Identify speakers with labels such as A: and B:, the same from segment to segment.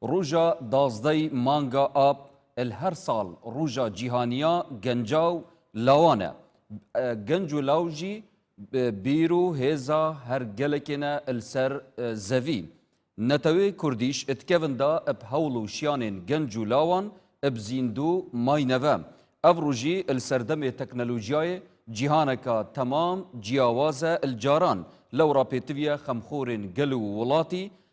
A: روژا دازدەی مانگا ئاب ال هەر ساڵ روژا جیهانیا گەنجا و لاوانە، گەنج و لاو ژی بیر و هێزا هەر گەلەکێنە ال سەر زەوی، نەتەوێ کوردیش اتکەون دا اب هەوڵ و شیانێن گەنج و لاوان اب زیندوو ماینەوە، ئەڤ روژی ال سەردەمێ تەکنەلوژیایێ جیهانەکا تەمام جیاوازە ال جاران، لەوڕا پێتڤیە خەمخۆرێن گەل و وڵاتی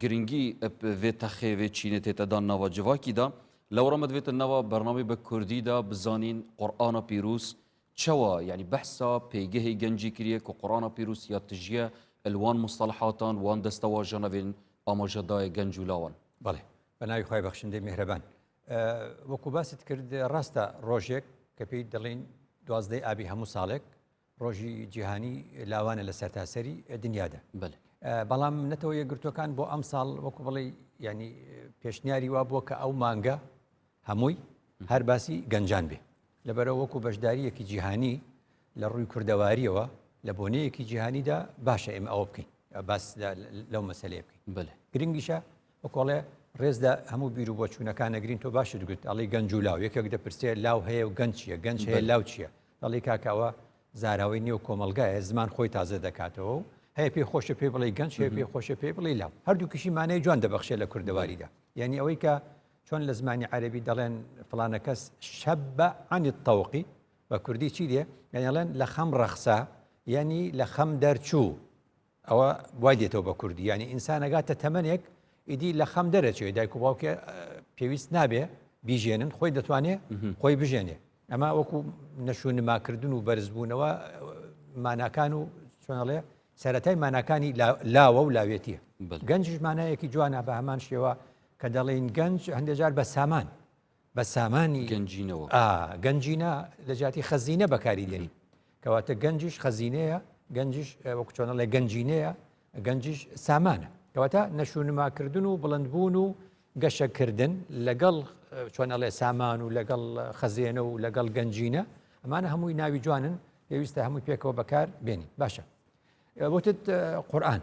A: گرنگی ڤێ تەخێ ڤێ چینێ تێتە دان ناوا جڤاکی دا، لەوەڕا مە دڤێتە ناوا بەرنامەی بە کوردی دا بزانین قورئانا پیرووز چەوا یانی بەحسا پێگەهێ گەنجی کریە ک قورئانا پیرووز یا تژیە ال وان موستەڵەحاتان وان دەستەواژەنا ڤێن ئاماژە دایە گەنج و لاوان. بەڵێ بەناوی
B: خوای بەخشندەی میهرەبان وەکو باست کرد ڕاستە ڕۆژێک کە پێی دەڵێن دوازدەی ئابی هەموو ساڵێک ڕۆژی جیهانی لاوانە لە سەرتاسەری دنیادا بەڵام
A: نەتەوە
B: یەکگرتوەکان بۆ ئەم ساڵ وەکو بڵێ ینی پێشنیاری وا بووە کە ئەو مانگە هەمووی هەر باسی گەنجان بێ لەبەرە وەکو بەشداریەکی جیهانی لە ڕووی کوردەواریەوە لە بۆنەیەکی جیهانیدا باشە ئێمە ئەوە بکەین باس لەو مەسلەیە بکەین بەێ گرنگیشە وەکۆڵێ ڕێزدا هەموو بیر و بۆچوونەکان نەگرین تۆ باشت گوت ئەڵی گەنج و لاو یەکێک دەپرسێ لاو هەیە و گەنجە گەنج هەیە لاو چییە دەڵێی کاکە ئەوە زاراوەی نێو کۆمەڵگایە زمان خۆی تازە دەکاتەوە و هەیە پێی خۆشە پێی بڵی گەنج هەیە پێی خۆشە پێی بڵی لاو هەردوو کشی مانای جوان دەبخشێ لە کوردەواریدا یعنی ئەوەی کە چۆن لە زمانی عەربی دەڵێن فلانە کەس شەب بە عنی تەوقی بە کوردی چی دێ یعنیڵێن لە خەم ڕەخسا یعنی لە خەم دەرچوو ئەوە وای دێتەوە بە کوردی یعنی ئینسان ئەگاتە تەمەنێک ئیدی لە خەم دەرەچێت دایک و باوکێ پێویست نابێ بیژێنن خۆی دەتوانێت خۆی بژێنێ ئەمە وەکو نەشو نماکردن و بەرزبوونەوە ماناکان و چۆنەڵێ سەتای ماناکانی لاوە و لاوێتیە گەنجش مانایەکی جوانە بە هەمان شێوە کە دەڵێن گەنج هەندێجار بە سامان بە سامانی گەنجینەوە. ئا،
A: گەنجینە
B: لە جیاتی خەزینە بەکاری دێنین. کەواتە گەنجیش خەزینەیە، گەنجیش وەکو چۆن ئەڵێ گەنجینەیە، گەنجیش سامانە. کەواتە نەشونماکردن و بڵندبوون و گەشەکردن لەگەڵ چۆن ئەڵێ سامان و لەگەڵ خەزێنە و لەگەڵ گەنجینە، ئەمانە هەمووی ناوی جوانن، پێویستە هەمووی پێکەوە بەکار بێنین. باشە. وتت قورئان.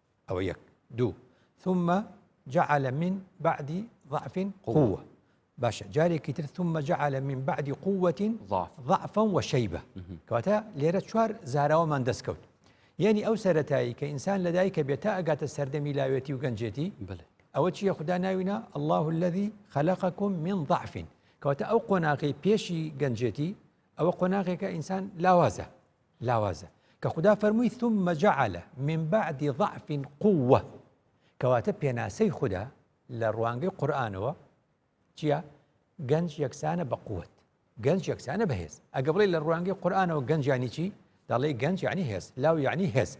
B: ئەوە یەک دوو ثم جعل من بعد ضعف قوة باشە جارێکی تر ثم جعل من بعد قوة ضعفا وشيبة کەواتە لێرە چوار زاراوەمان دەستکەوت یعنی ئەو سەتایی کە ئینسان لەدایکە بێت تا ئەگاتە سەردەمی لاوێتی و گەنجێتی ئەوە چیە خوددا ناوینا الله الذي خلقكم من ضعف کەواتە ئەو قۆناغی پێشی گەنجێتی ئەوە قۆناغێکە ئینسان لاوازە لاوازە کە خودا فەرمووی ثم جعل من بعد ضعف قووە کەواتە پێناسەی خودا لە ڕوانگەی قورآانەوە چییە گەنج یەکسانە بە قوت گەنج یەکسانە بەهێز ئەگە بڵێ لە ڕوانگەی قورآانەوە گەنجانی چی دەڵێ گەنج یعنی هێز لاو یعنی هێز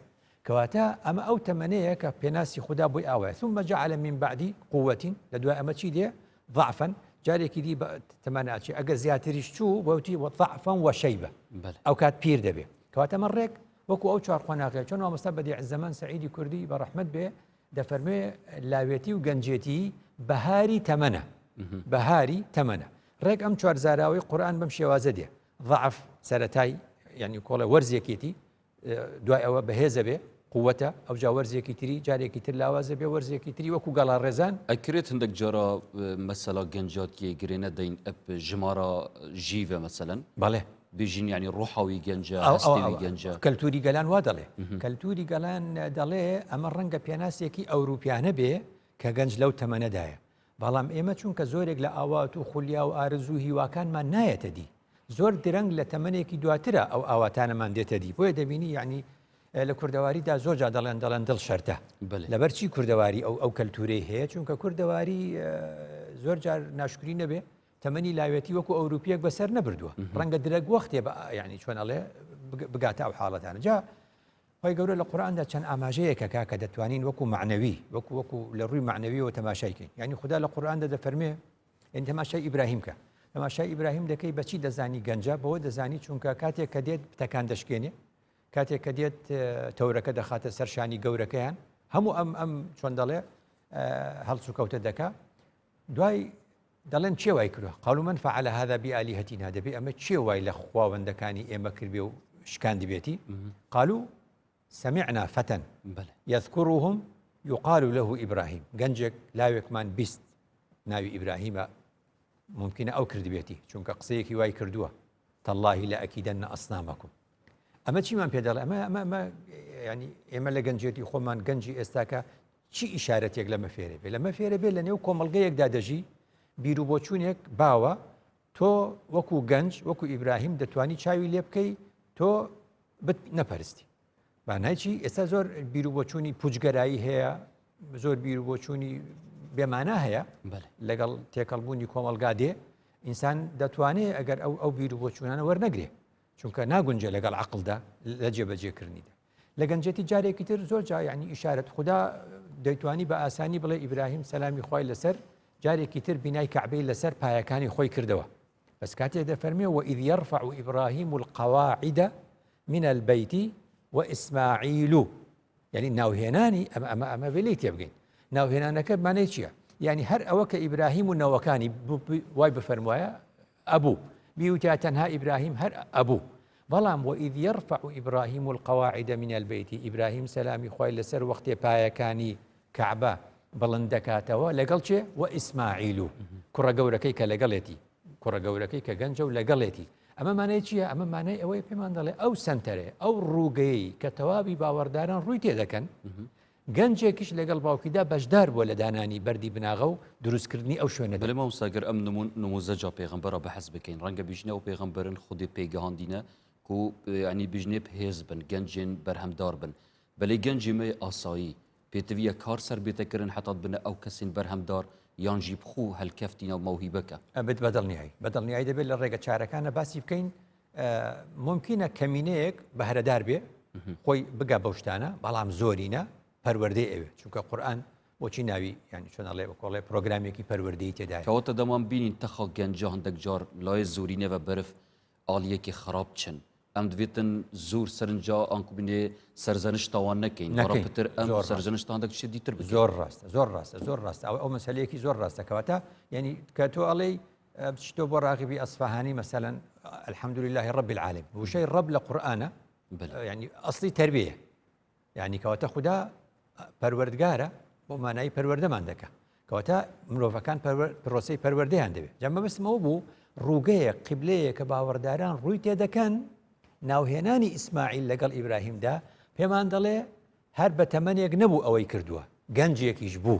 B: کەواتە ئەمە ئەو تەمەنەیە کە پێناسی خودا بۆی ئاوایە ثم جعل من بعدی قووەت لە دوای ئەمە چی دێ ضعفا جارێکی دی تەمانناچێ ئەگە زیاتریش چوو بەوتی وەفعفەن وە شەیبە ئەو کات پیر دەبێ کەواتەمە ڕێک وەکو ئەو چوار قۆناغی چۆن مامۆستا بەدی زەمن سعیدی کوردی بە ڕحمد بێ دەفەرموێ لاوێتی و گەنجێتی بەهاری تەمەە بەهاری تەمەە ڕێک ئەم چوار زاراوەی قورآن بەم شێوازە دێ ضعف سەتای ینی کۆڵە وەرزێکێتی دوای ئەوە بەهێز ئەبێ قووەتە ئەوجا وەرزێکی تری جارێکی تر لاوازە بێ وەرزێکی تری وەکو گەڵا ڕێزان ئەکرێت هەندێک جارا
A: مەسەلا گەنجاتیە گرێ نەدەین ئەپ
B: ژمارە
A: ژیڤە مەسەن بەڵێ بژین ینی ڕۆحاوی گەنجە گەنجە
B: کەلتوری
A: گەلان وا دەڵێ
B: کەلتوری گەلان دەڵێ ئەمە ڕەنگە پێناسێکی ئەوروپیانە بێ کە گەنج لەو تەمەنەدایە بەڵام ئێمە چونکە زۆرێک لە ئاوات و خولیا و ئارەزوو و هیواکانمان نایەتە دی، زۆر درەنگ لە تەمەنێکی دواترە ئەو ئاواتانەمان دێتە دی، بۆیە دەبینی یەعنی لە کوردەواریدا زۆر جا دەڵێن دەڵێن دڵ شەرتە، لەبەر چی کوردەواری ئەو ئەو کەلتوورەی هەیە، چونکە کوردەواری زۆر جار ناشکری نەبێ تەمەنی لاوێتی وەکو ئەوروپیەک بەسەر نەبردووە، ڕەنگە درەنگ وەختێ یەعنی چۆن ئەڵێ بگاتە ئەو حاڵەتانە. جا خوای گەورە لە قورئاندا چەند ئاماژەیەکە کاکە دەتوانین وەکو مەعنەوی وەکو وەکو لە ڕووی مەعنەویەوە تەماشای کەین یانی خودا لە قورئاندا دەفەرمێ یانی تەماشای ئیبراهیم کە تەماشای ئیبراهیم دەکەی بەچی دەزانی گەنجە بەوە دەزانی چونکە کاتێک کە دێت پتەکان دەشکێنێ کاتێک کە دێت تەورەکە دەخاتە سەر شانی گەورەکەیان هەموو ئەم ئەم چۆن دەڵێ هەڵسوکەوتە دەکا دوای دەڵێن کێ وای کردوە، قالوا من فعل هذا بآلیهتنا، دەبێ ئەمە کێ وای لە خواوەندەکانی ئێمە کردبێ و شکاندبێتی، قالوا سمعنا فتى یذکرهم یقال له ئیبراهیم، گەنجێک لاوێکمان بیست ناوی ئیبراهیمە ممکنە ئەو کردبێتی چونکە قسەیەکی وای کردووە تەللهی لە ئەکیدەن نە ئەسنامەکم ئەمە چیمان پێ دەڵێ ئەمە ئەمە ئەمە ینی ئێمە لە گەنجێتی خۆمان گەنجی ئێستاکە چی ئیشارەتێک لەمە فێرە بێ لەمە فێرە بێ لە نێو کۆمەلگەیەکدا دەژی بیروبۆچوونێک باوە تۆ وەکو گەنج وەکو ئیبراهیم دەتوانی چاوی لێ بکەی تۆ بت نەپەرستی بانایچی ئێستا زۆر بیروبۆچوونی پوجگەرایی هەیە زۆر بیروبۆچوونی بێمانە هەیە لەگەڵ تێکەڵبوونی کۆمەلگا دێ ئینسان دەتوانێت ئەگەر ئەو ئەو بیروبۆچوونانە وەرنەگرێ چونکە ناگونجێ لەگەڵ عقلدا لە جێبەجێکردنیدا لە گەنجێتی جارێکی تر زۆر جا یعنی ئیشارەت خوددا دەیتوانی بە ئاسانی بڵێ ئیبراهیم سەلامی خی لەسەر جارێکی تر بینای کەعبەی لەسەر پایەکانی خۆی کردەوە بەس کاتێ دەفەرمێ و ئید یرفع و ئیبراهیم و القواعدە من البیتی و ئیسماعیل و یعنی ناوهێنانی ئەم ئەمە ئەمە وێلی تێبگەین ناوهێنانەکە مانای چییە؟ یعنی هەر ئەوە کە ئیبراهیم و نەوەکانی وای بفەرموایە ئەبوو بیوتە تەنها ئیبراهیم هەر ئەبوو بەڵام وە ئید یەڕفع ئیبراهیم القواعد من البیت ئیبراهیم سەلامی خوای لەسەر وەختێ پایەکانی کەعبە بڵند دەکاتەوە لەگەڵ چێ وە ئیسماعیل و کوڕە گەورەکەی کە لەگەڵێتی کوڕە گەورەکەی کە گەنجە و لەگەڵێتی ئەمە مانای چییە ئەمە مانای ئەوەی پێمان دەڵێ ئەو سنتەرێ ئەو ڕووگەی کە تەواوی باوەڕداران ڕووی تێ دەکەن گەنجێکیش لەگەڵ باوکیدا بەشدار بووە لە دانانی بەردی بناغە و دروستکردنی ئەو شوێنەدا. بەلێ مامۆستا گەر ئەم
A: نموزەجە پێغەمبەرە بەحس بکەین رەنگە بیژنێ ئەو پێغەمبەرن خودێ پێی گەهاندینە کو یەعنی بیژنێ بهێز بن گەنجێن بەرهەم دار بن بەلێ گەنجی مەی ئاسایی پێتڤیە کار سەر بێتە کرن حەتات بنە ئەو کەسین بەرهەم دار یان ژی بخو هەلکەفتینە و مەوهیبەکە. ئەبت بەدڵنیایی
B: بەدڵنیایی دەبێت لە رێگە چارەکانە باسی بکەین مومکینە کەمینەیەک بەهرەدار بێ خۆی بگا بەو شتانە بەڵام زۆرینە پەروەردەی ئەوێ چونکە قورآن بۆچی ناوی ینی چۆنەڵێ بەکۆڵێ پرۆگرامێکی پەروەردەی تێداکەوەتە دەمان بینین
A: تەخەڵ گەنجە هەندێک جار لای زۆری نەوە بەرف ئالیەکی خراپ چن ئەم دوێتن زۆر سەرنجا ئەنکوبینێ سەرزەنش تاوان نەکەین نەکەپتر ئەم سەرزەنشتان دەک شدیتر زۆر ڕاستە زۆر ڕاستە زۆر
B: ڕاستە ئەو ئەو مەسلەیەکی زۆر ڕاستەکەواتە ینی کە تۆ ئەڵێی بچیتەوە بۆ ڕاغبی ئەسفهانی مەسەەن الحەمدلله ڕب العالم وشەی ڕب لە قورآە ینی ئەسلی تربیە ینی کەواتە خوددا پەروەردگارە بۆ مانایی پەروەردەمان دەکە کەواتە مرۆڤەکان پرۆسی پەروەردەیان دەوێت جەمە بستمەوە بوو ڕووگەیە قبلەیە کە باوەڕداران ڕووی تێدەکەن ناوهێنانی ئیسماعیل لەگەڵ ئیبراهیمدا پێمان دەڵێ هەر بە تەمەنێک نەبوو ئەوەی کردووە گەنجێکیش بوو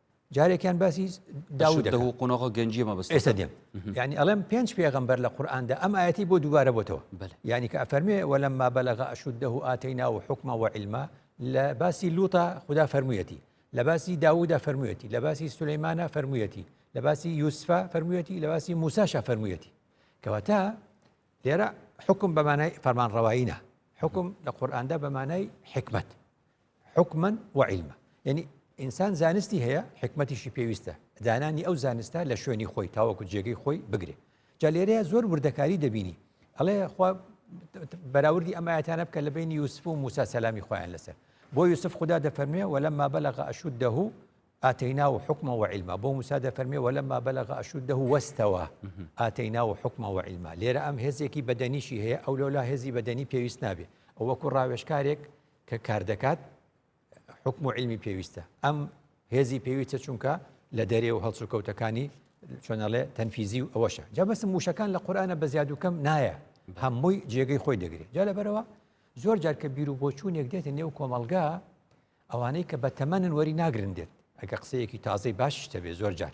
B: جارێکیان باسی داودە و قۆنەغە گەنجی
A: مەبست ئێستا دێم ینی
B: ئەڵێم پێنج پێغمبەر لە قورآاندا ئەم ئاەتی بۆ دووبارە بۆتەوە ینی کە ئەفەرمێ وەلم ما بەلغ ئەشودە و ئاتی ناو حکمە و علما لە باسی لوتە خدا فەرموویەتی لە باسی داودا فەرموویەتی لە باسی سولەیمانە فەرموویەتی لە باسی یوسفا فەرموویەتی لە باسی موساشا فەرموویەتی کەواتە لێرە حکم بەمانای فەرمان ڕەوایینە حکم لە قورآاندا بەمانای حکمت حکما و علما یعنی ئینسان زانستی هەیە حکمەتیشی پێویستە دانانی ئەو زانستە لە شوێنی خۆی تاوەکو جێگەی خۆی بگرێ جا لێرەیە زۆر وردەکاری دەبینی ئەڵێ خوا بەراوردی ئەمایەتانە بکە لە بینی یوسف و موسا سەلامی خۆیان لەسەر بۆ یوسف خوددا دەفەرمێ وەلەما بەلەغ ئەشود دەه ئاتەینا و حکمە و عیلما بۆ موسا دەفەرمێ وەلەما بەلەغ ئەشود دەه وەستەوە ئاتەینا و حکمە و عیلما لێرە ئەم هێزێکی بەدەنیشی هەیە ئەو لەولا هێزی بەدەنی پێویست نابێ ئەوەکو ڕاوێشکارێک کە کاردەکات حکم و علمی پێویستە ئەم هێزی پێویستە چونکە لە دەرێ و هەڵسوکەوتەکانی چۆنەڵێ تەنفیزی و ئەوەشە جا بەسم موشەکان لە قورآانە بە زیادوکەم نایە هەمووی جێگەی خۆی دەگرێت جا لەبەرەوە زۆر جار کە بیر و بۆچوونێک دێتە نێو کۆمەلگا ئەوانەی کە بە تەمەنن وەری ناگرن دێت ئەگە قسەیەکی تازەی باشیشتە بێ زۆر جار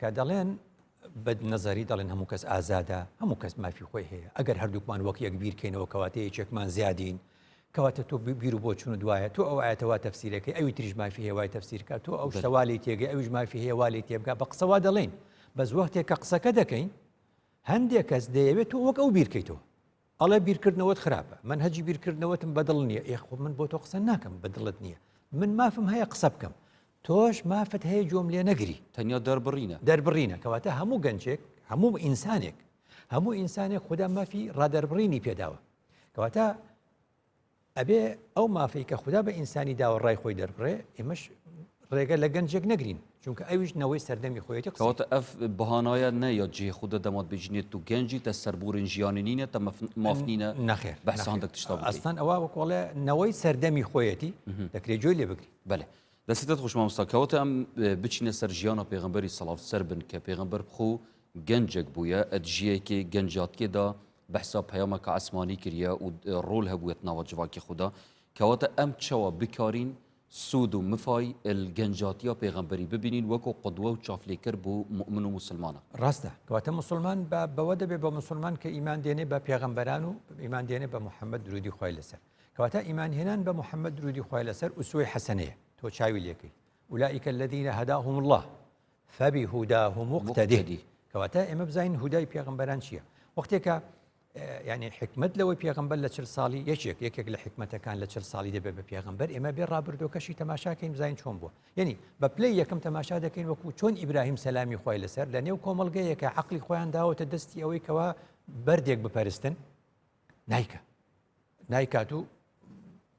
B: کە دەڵێن بە نەزاری دەڵێن هەموو کەس ئازادە هەموو کەس مافی خۆی هەیە ئەگەر هەردووکمان وەک یەک بیرکەینەوە کەواتە یەکێکمان زیادین کەواتە تۆ بیر و بۆ چون دوایە تۆ ئەو ئاەتەوە تەفسیرەکەی ئەوی تریش مافی هێوای تەفسیرکە تۆ ئەو شتەوالی تێگە ئەوش مافی هێوالی تێبگا بە قسەوا دەڵێن بەس وەختێک کە قسەکە دەکەین هەندێک کەس دەیەوێت تۆ وەک ئەو بیرکەیتەوە ئەڵێ بیرکردنەوەت خراپە مەنهەجی بیرکردنەوەتم بەدڵ نییە ئێ خۆ من بۆ تۆ قسە ناکەم بە دڵت نییە من مافم هەیە قسە بکەم تۆش مافت هەیە گوێم لێ نەگری تەنیا دەربڕینە
A: دەربڕینە
B: کەواتە هەموو گەنجێک هەموو ئینسانێک هەموو ئینسانێک خدا مافی ڕادەربڕینی پێداوە کەواتە ئەبێ ئەو مافەی کە خوددا بە ئینسانی داوە ڕای خۆی دەربڕێ ئێمەش ڕێگە لە گەنجێک نەگرین چونکە ئەویش نەوەی سەردەمی خۆیەتی قسەواتە ئەف
A: بەهانایە نە یا جێ خودە دەمات بجنێت و گەنجی تە سەربورن ژیانی نینە تە مافنینە نەخێر بەسان
B: دەشتا
A: ئەستان ئەوە وەکۆڵێ
B: نەوەی سەردەمی خۆیەتی دەکرێت جۆی لێ بگری بەێ دەستێت
A: خوشمامستا کەوتە ئەم بچینە سەر ژیانە پێغمبەری سەڵاف سەر بن کە پێغمبەر بخۆ گەنجێک بووە ئەدژیەکی گەنجاتکێدا بەحسا پەیامە کە عەسمانی کریە و ڕول هەبووە تناوە جڤاکی خودا، کەواتە ئەم چەوە بکارین سوود و مفای ال گەنجاتیا پێغەمبەری ببینین وەکو قدوە و چافلێکەر بو موئمن و موسلمانا. ڕاستە، کەواتە
B: موسلمان بە بەوە دەبێ بە موسلمان کە ئیمان دێنێ بە پێغەمبەران و ئیمان دێنێ بە محمد دروودی خوای لەسەر کەواتە ئیمان هێنان بە محمد دروودی خوای لەسەر ئوسوەی حەسەنەیە تۆ چاوی لێکەی اولئک الذین هداهم اللە فبی هوداه مقتده کەواتە ئێمە بزانین هودای پێغمبەران چییە وەختێکە ینی حکمت لەوەی پێغمبەر لە چل ساڵی یەکێک یەکێک لە حکمەتەکان لە چل ساڵی دەبێت بە پێغمبەر ئێمە بێ ڕابردۆکەشی تەماشاکەین زین چۆن بووە یعنی بە پلی یەکەم تەماشا دەکەین وەکو چۆن ئیبراهیم سەلامی خۆی لەسەر لە نێو کۆمەلگەیەکە عقلی خۆیان داوەتە دەستی ئەوەی کەوا بەردێک بپەرستن نیکە نایکات و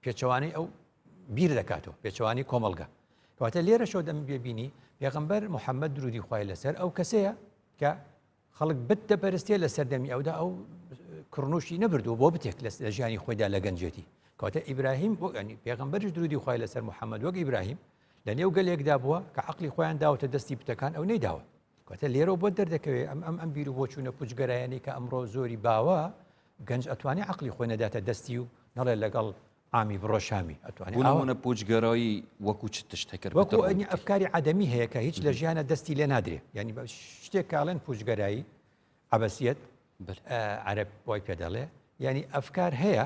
B: پێچەوانەی ئەو بیر دەکاتەوە پێچوانی کۆمەلگە کەواتە لێرە شۆ دەم بێبینی پێغمبەر محەممەد درودی خی لەسەر ئەو کەسەیە کە خەڵک بت دەپەرستێ لە سەردەمی ئەودا ئەو کڕنوشی نەبردو بۆ بتێک لە ژیانی خۆیدا لە گەنجێتی کەواتە ئیبراهیم بۆ ئەنی پێغمبەرش درودی خی لەسەر محەممەد وەک ئیبراهیم لە نێو گەلێکدا بووە کە عقلی خۆیان داوەتە دەستی بتەکان ئەو نەیداوە واتە لێرەوە بۆت دەردەکەوێت ئەم ئەم ئەم بیر و بۆچوونە پوچگەرایانی کە ئەمڕۆ زۆری باوە گەنج ئەتوانی عقلی خۆی نەداتە دەستی و نەڵێ لەگەڵ ئامی بڕۆ شامی ئەتوانیونە
A: پوچگەرایی وەکو چ تشتەکرد وەکوئەنی ئەفکاری
B: عادەمی هەیە کە هیچ لە ژیانە دەستی لێ نادرێ ینی بە شتێک کاڵێن پوچگەرایی عبەسیەت عرب وای پێ دەڵێ ینی ئەفکار هەیە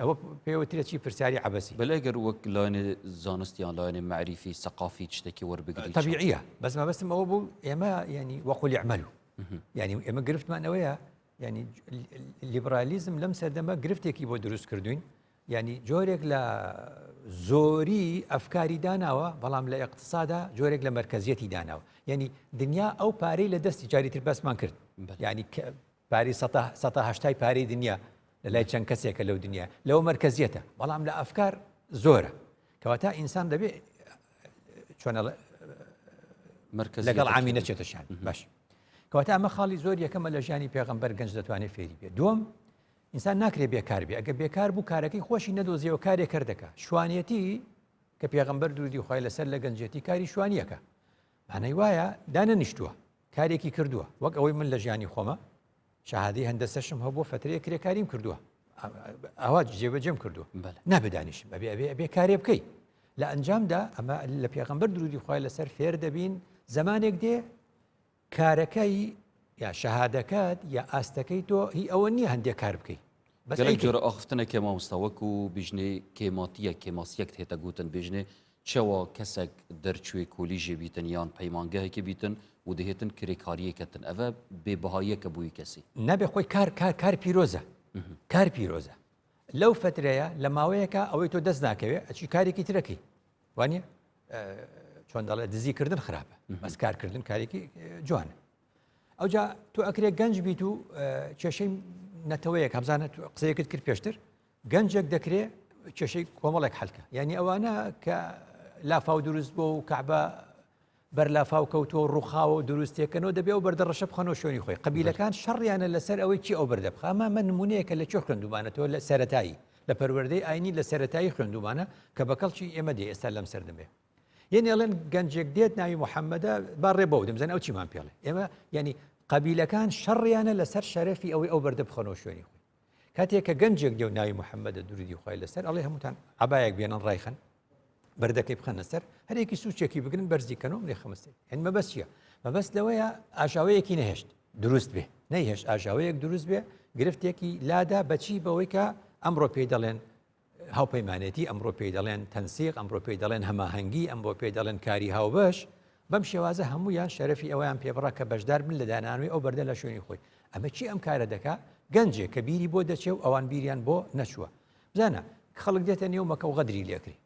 B: ئەوە پێ وترێ چی پرسیاری عەبەسی. بەلێ گەر وەک لایەنێ
A: زانست یان لایەنێ مەعریفی سەقافی چتێکی وەربگری چۆن؟ تەبیعیە بەس مەبەستم
B: ئەوە بوو ئێمە یانی وەقولی ئەعمەلو یانی ئێمە گرفتمان ئەوەیە یانی لیبرالیزم لەم سەردەمە گرفتێکی بۆ دروست کردوین یانی جۆرێک لە زۆری ئەفکاری داناوە بەڵام لە اقتصادا جۆرێک لە مرکزیەتی داناوە یعنی دنیا ئەو پارەی لە دەستی جاری تر بەسمان کرد ینی پارەی سەتا سەتا هەشتای پارەی دنیا لە لای چەند کەسێکە لەو دنیا لەوە مەرکەزیەتە بەڵام لە ئەفکار زۆرە کەواتا ئینسان دەبێ چۆنە مرکز لەگەڵ ئامی نەچێتەشان باش کەواتا ئەمە خاڵی زۆر یەکەمە لە ژیانی پێغمبەر گەنج دەتوانێت فێری بێ دوم ئینسان ناکرێ بێکار بێ ئەگە بێکار بوو کارەکەی خۆشی نەدۆزیەوە کارێک کرد دەکە شوانەتی کە پێغمبەر دوودی خخوای لەسەر لە گەنجێتی کاری شوانیەکە مانای وایە دانەنیشتووە کارێکی کردووە وەک ئەوەی من لە ژیانی خۆمە شەهادی هەندەسەشم هەو بۆ فترەیە کرێکاریم کردووە ئەوە جێبەجێم کردووە نابدانیشم ئەبێ ئەبێ ئەبێ کارێ بکەی لە ئەنجامدا ئەمە لە پێغمبەر درودی خخوای لەسەر فێر دەبین زمانێک دێ کارەکەی یا شەهادەکەت یا ئاستەکەی تۆ هی ئەوە نییە هەندێک کار بکەیت گەلەک جۆرە
A: ئاخفتنە کێ مامۆستا وەکو بیژنێ کێماتیە کێماسیەک هێتە گوتن بێژنێ چەوا کەسەک دەرچوێ کۆلیژێ بیتن یان پەیمانگەهێکی بیتن و دەهێتن کرێکاریە کەتن ئەڤە بێ بەهاییەکە بووی کەسی نابێ خۆی کار کار
B: کار پیرۆزە کار پیرۆزە لەو فترەیە لە ماوەیەکە ئەوەی تۆ دەست ناکەوێ ئەچی کارێکی ترەکەی وانە چۆن دەڵێ دزیکردن خراپە بەس کارکردن کارێکی جوانە ئەوجا تۆ ئەکرێ گەنج بیت و کێشەی نەتەوەیەک هەبزانە قسەیەکت کرد پێشتر گەنجێک دەکرێ کێشەی کۆمەڵێک حلکە یعنی ئەوانە کە لافاو دروست بۆ و کەعبە بەر لافاو کەوتووە و ڕوخاوە و دروستێکەکەەوە دەبێ و بەردە ڕەشە بخەنەوە شوێنی خۆی قبیلەکان شەڕیانە لەسەر ئەوەی چی ئەو بەردە بخەمە من نمونەیەکە لە چۆ خوێندومانەتەوە لە سەتایی لە پەروەردەی ئاینی لە سەتایی خوێندومانە کە بەکەڵکی ئێمە دێ ئێستا لەم سەردەمێ یعنی ئەڵێن گەنجێک دێت ناوی محەممەدە با ڕێ بەو دەمزن ئەو چیمان پێڵێ ئێمە ینی قبیلەکان شەڕیانە لەسەر شەرەفی ئەوەی ئەو بەردە بخەنەوە شوێنی خۆی کاتێک کە گەنجێک دێو ناوی محەممەدە دووری خۆی لەسەر ئەڵێ هەمووتان عبایەک بێنن ڕایخن بەردەکەی بخەنە سەر هەرێکی سوچێکی بگرن بەرزی کەنەوە لێ خمستی هەن مەبەست چیە مەبەست لەوەیە ئاژاوەیەکی نەهێشت دروست بێ نەیهێش ئاژاوەیەک دروست بێ گرفتێکی لادا بەچی بەوەی کە ئەمڕۆ پێی دەڵێن هاوپەیمانێتی، ئەمڕۆ پێی دەڵێن تەنسیق، ئەمڕۆ پێی دەڵێن هەماهەنگی، ئەمڕۆ پێی دەڵێن کاری هاوبەش، بەم شێوازە هەموویان شەرەفی ئەوەیان پێبڕا کە بەشدار بن لە دانانەوەی ئەو بەردە لە شوێنی خۆی. ئەمە کێ ئەم کارە دەکا؟ گەنجێک کە بیری بۆ دەچێ و ئەوان بیریان بۆ نەچووە. بزانە، خەڵک دێتە نێو مەکە و غەدری لێکری.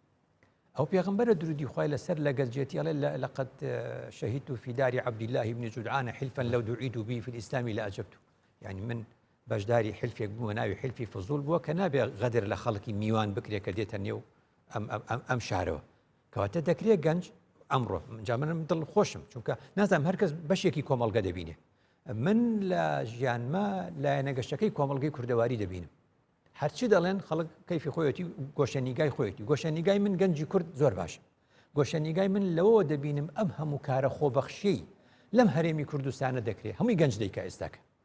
B: ئەو پێغمبەرە درودی خوای لەسەر لە گەنجێتی ئەڵێ لەقەد شەهیدت فی داری عبداللە بن جدعان حلفا لو دعیت به فی الاسلام لە ئەجەبت. یعنی من بەشداری حیلفێک بووە ناوی حیلفی فزول بووە کە نابێ غەدر لە خەڵکی میوان بکرێت کە دێتە نێو ئەم شارەوە کەواتە دەکرێت گەنج ئەمڕۆ جا منم دڵ خۆشم چونکە نازانم هەرکەس بەشێکی کۆمەڵگە دەبینێ من لە ژیانمە لایەنە گەشتەکەی کۆمەلگەی کوردەواری دەبینم هەرچی دەڵێن خەڵک کەفی خۆیەتی گۆشەنیگای خۆیەتی گۆشەنیگای من گەنجی کورد زۆر باشە گۆشەنیگای من لەوەوە دەبینم ئەم هەموو کارە خۆبەخشی لەم هەرێمی کوردستانە دەکرێت هەمووی گەنج دەیکە ئێستاکە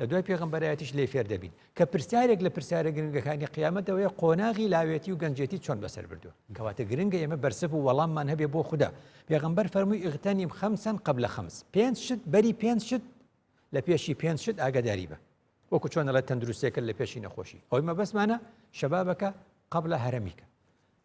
B: لە دوای پێغەمبەرایەتیش لێی فێر دەبین، کە پرسیارێک لە پرسیارە گرنگەکانی قیامەت ئەوەیە قۆناغی لاوێتی و گەنجێتی چۆن بەسەر بردووە؟ کەواتە گرنگە ئێمە بەرسڤ و وەڵاممان هەبێ بۆ خودا، پێغەمبەر فەرمووی اغتنم خمسا قبل خمس، پێنج شت بەری پێنج شت لە پێشی پێنج شت ئاگاداری بە، وەکو چۆن دەڵێت تەندروستێکە لە پێشی نەخۆشی، ئەوەی مەبەستمانە شبابک قبل هرمک.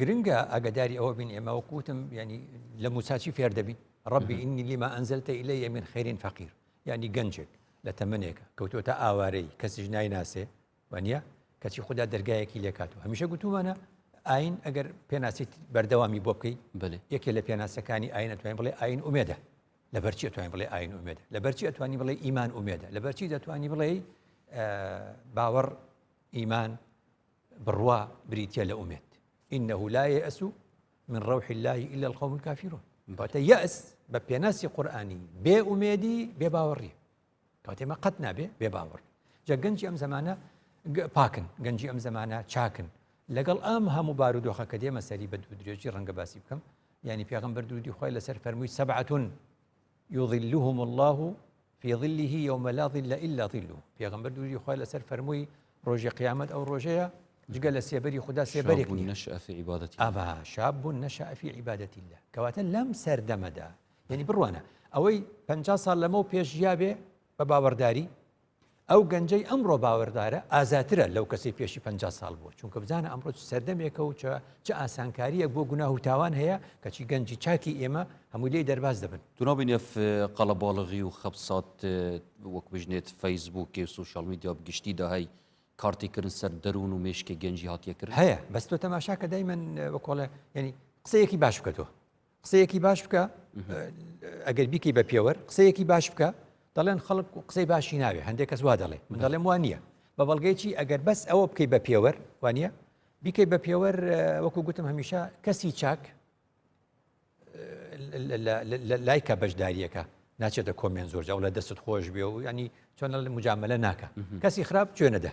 A: گرنگە
B: ئاگداری ئەوە بین ئێمە وەکوتم ینی لە موچاچی فێر دەبین ڕبی ئینی لیما ئەنزلتە ئیلە یەمین خێرین فەقیر ینی گەنجێک لە تەمنێکە کەوتۆتە ئاوارەی کەسیش نایناسێ وانە کەچی خوددا دەرگایەکی لێکات و هەمیشە گوتومانە ئاین ئەگەر پێناسیت بەردەوامی بۆ بکەیت بێ یەکێ لە پێناسەکانی ئاین ئەتوانین بڵێ ئاین ئومێدە لە بەرچی ئەتوانین بڵێ ئاین ئومێدە لە بەرچی ئەتوانی بڵێ ئیمان ئومێدە لە بەرچی دەتوانی بڵێ باوەڕ ئیمان بڕوا بریتیە لە ئومێد ئینەهو لا یەئس من ڕەوحی اللە الا القوم الکافرون کەواتە یەئس بە پێناسی قورئانی بێ ئومێدی بێ باوەڕی کەواتە ئێمە قەت نابێ بێ باوەڕ جا گەنجی ئەم زمانە پاکن گەنجی ئەم زمانە چاکن لەگەڵ ئەم هەموو بارودۆخە کە دێمە سەری بە دوو درێژی ڕەنگە باسی بکەم ینی پێغمبەر دوودی خۆی لەسەر فەرمووی سەبعەتون یظلهم اللە فی ظله یوم لا ظل الا ظله پێغمبەر دوری خۆی لەسەر فەرمووی ڕۆژی قیامەت ئەو ڕۆژەیە جگە لە سێبەری خوددا سێبەرێک ئەبا
A: شاب بوون
B: نەشافی عیباەتی لە کەواتە لەم سەردەمەدا یعنی بڕوانە ئەوەی پ سال لەمە پێش یاێ بە باوەڕداری ئەو گەنجەی ئەمڕۆ باوەڕدارە ئازاترە لەو کەسی پێشی پ ساڵ بووە چونکە بزانە ئەمڕۆ سەردەمێکە و چ ئاسانکاریە بۆ گوناه و تاوان هەیە کەچی گەنجی چاکی ئێمە هەموو لێ دەرباز دەبن تونابینێف
A: قەڵەباڵغی و خەبسات وەک بژنێت فەیسبووکێ و سوشال میدیا بگشتی داهی کارتێکردن سەر دەروون و مێشکی گەنجی هاتیەکرد هەیە بەستۆ تەماشاکە
B: دای من وەکۆڵێ ینی قسەیەکی باش بکەەوە قسەیەکی باش بکە ئەگەر بیکەی بە پێوەر قسەیەکی باش بکە دەڵێن خەڵک قسەی باشی ناوێ هەندێک کەس وا دەڵێ من دەڵێم وان نییە بە بەڵگەیەکی ئەگەر بەس ئەوە بکەی بە پێوەر وانە بیکەی بە پێوەر وەکو گوتم هەمیشە کەسی چاک لایکە بەشداریەکە ناچێتە کۆمێن زۆر جاڵە دەست خۆش بێ و ینی چۆن مجاملە ناکە کەسی خراپ توێنەدە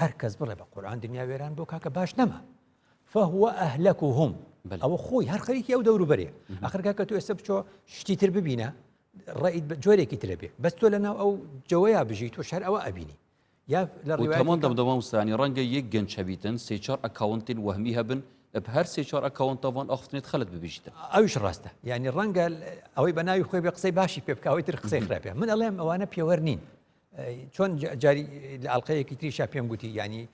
B: هەر کەس بڵێ بە قورآن دنیا وێران بۆ کاکە باش نەما فهو ئەهلەک و هم ئەوە خۆی هەر خەریکی ئەو دەوروبەرێ ئەخرگا کە تو ئێستا بچۆ شتی تر ببینە ڕیت بە جۆرێکی ترە بێ بەس تۆ لە ناو ئەو جەوەیە بژیت و شەر ئەوە ئەبینی یا لە ڕێوەمان دەمدەوام وسانی
A: ڕەنگە یەک گەنچەبیتن سێچار ئەکاونتین وەهمی هەبن هەر سێچار ئەکاونتەوان ئەخفتنێت خەلت ببیشتن ئەوش ڕاستە
B: ینی ڕەنگە ئەوەی بە ناوی خۆی بە قسەی باشی پێ بکەوەی تر قسەی خراپێ من ئەڵێم ئەوانە پێوەەر نین چۆن جاری لە ئەڵلقەیەکی تریشا پێم گوتی ینی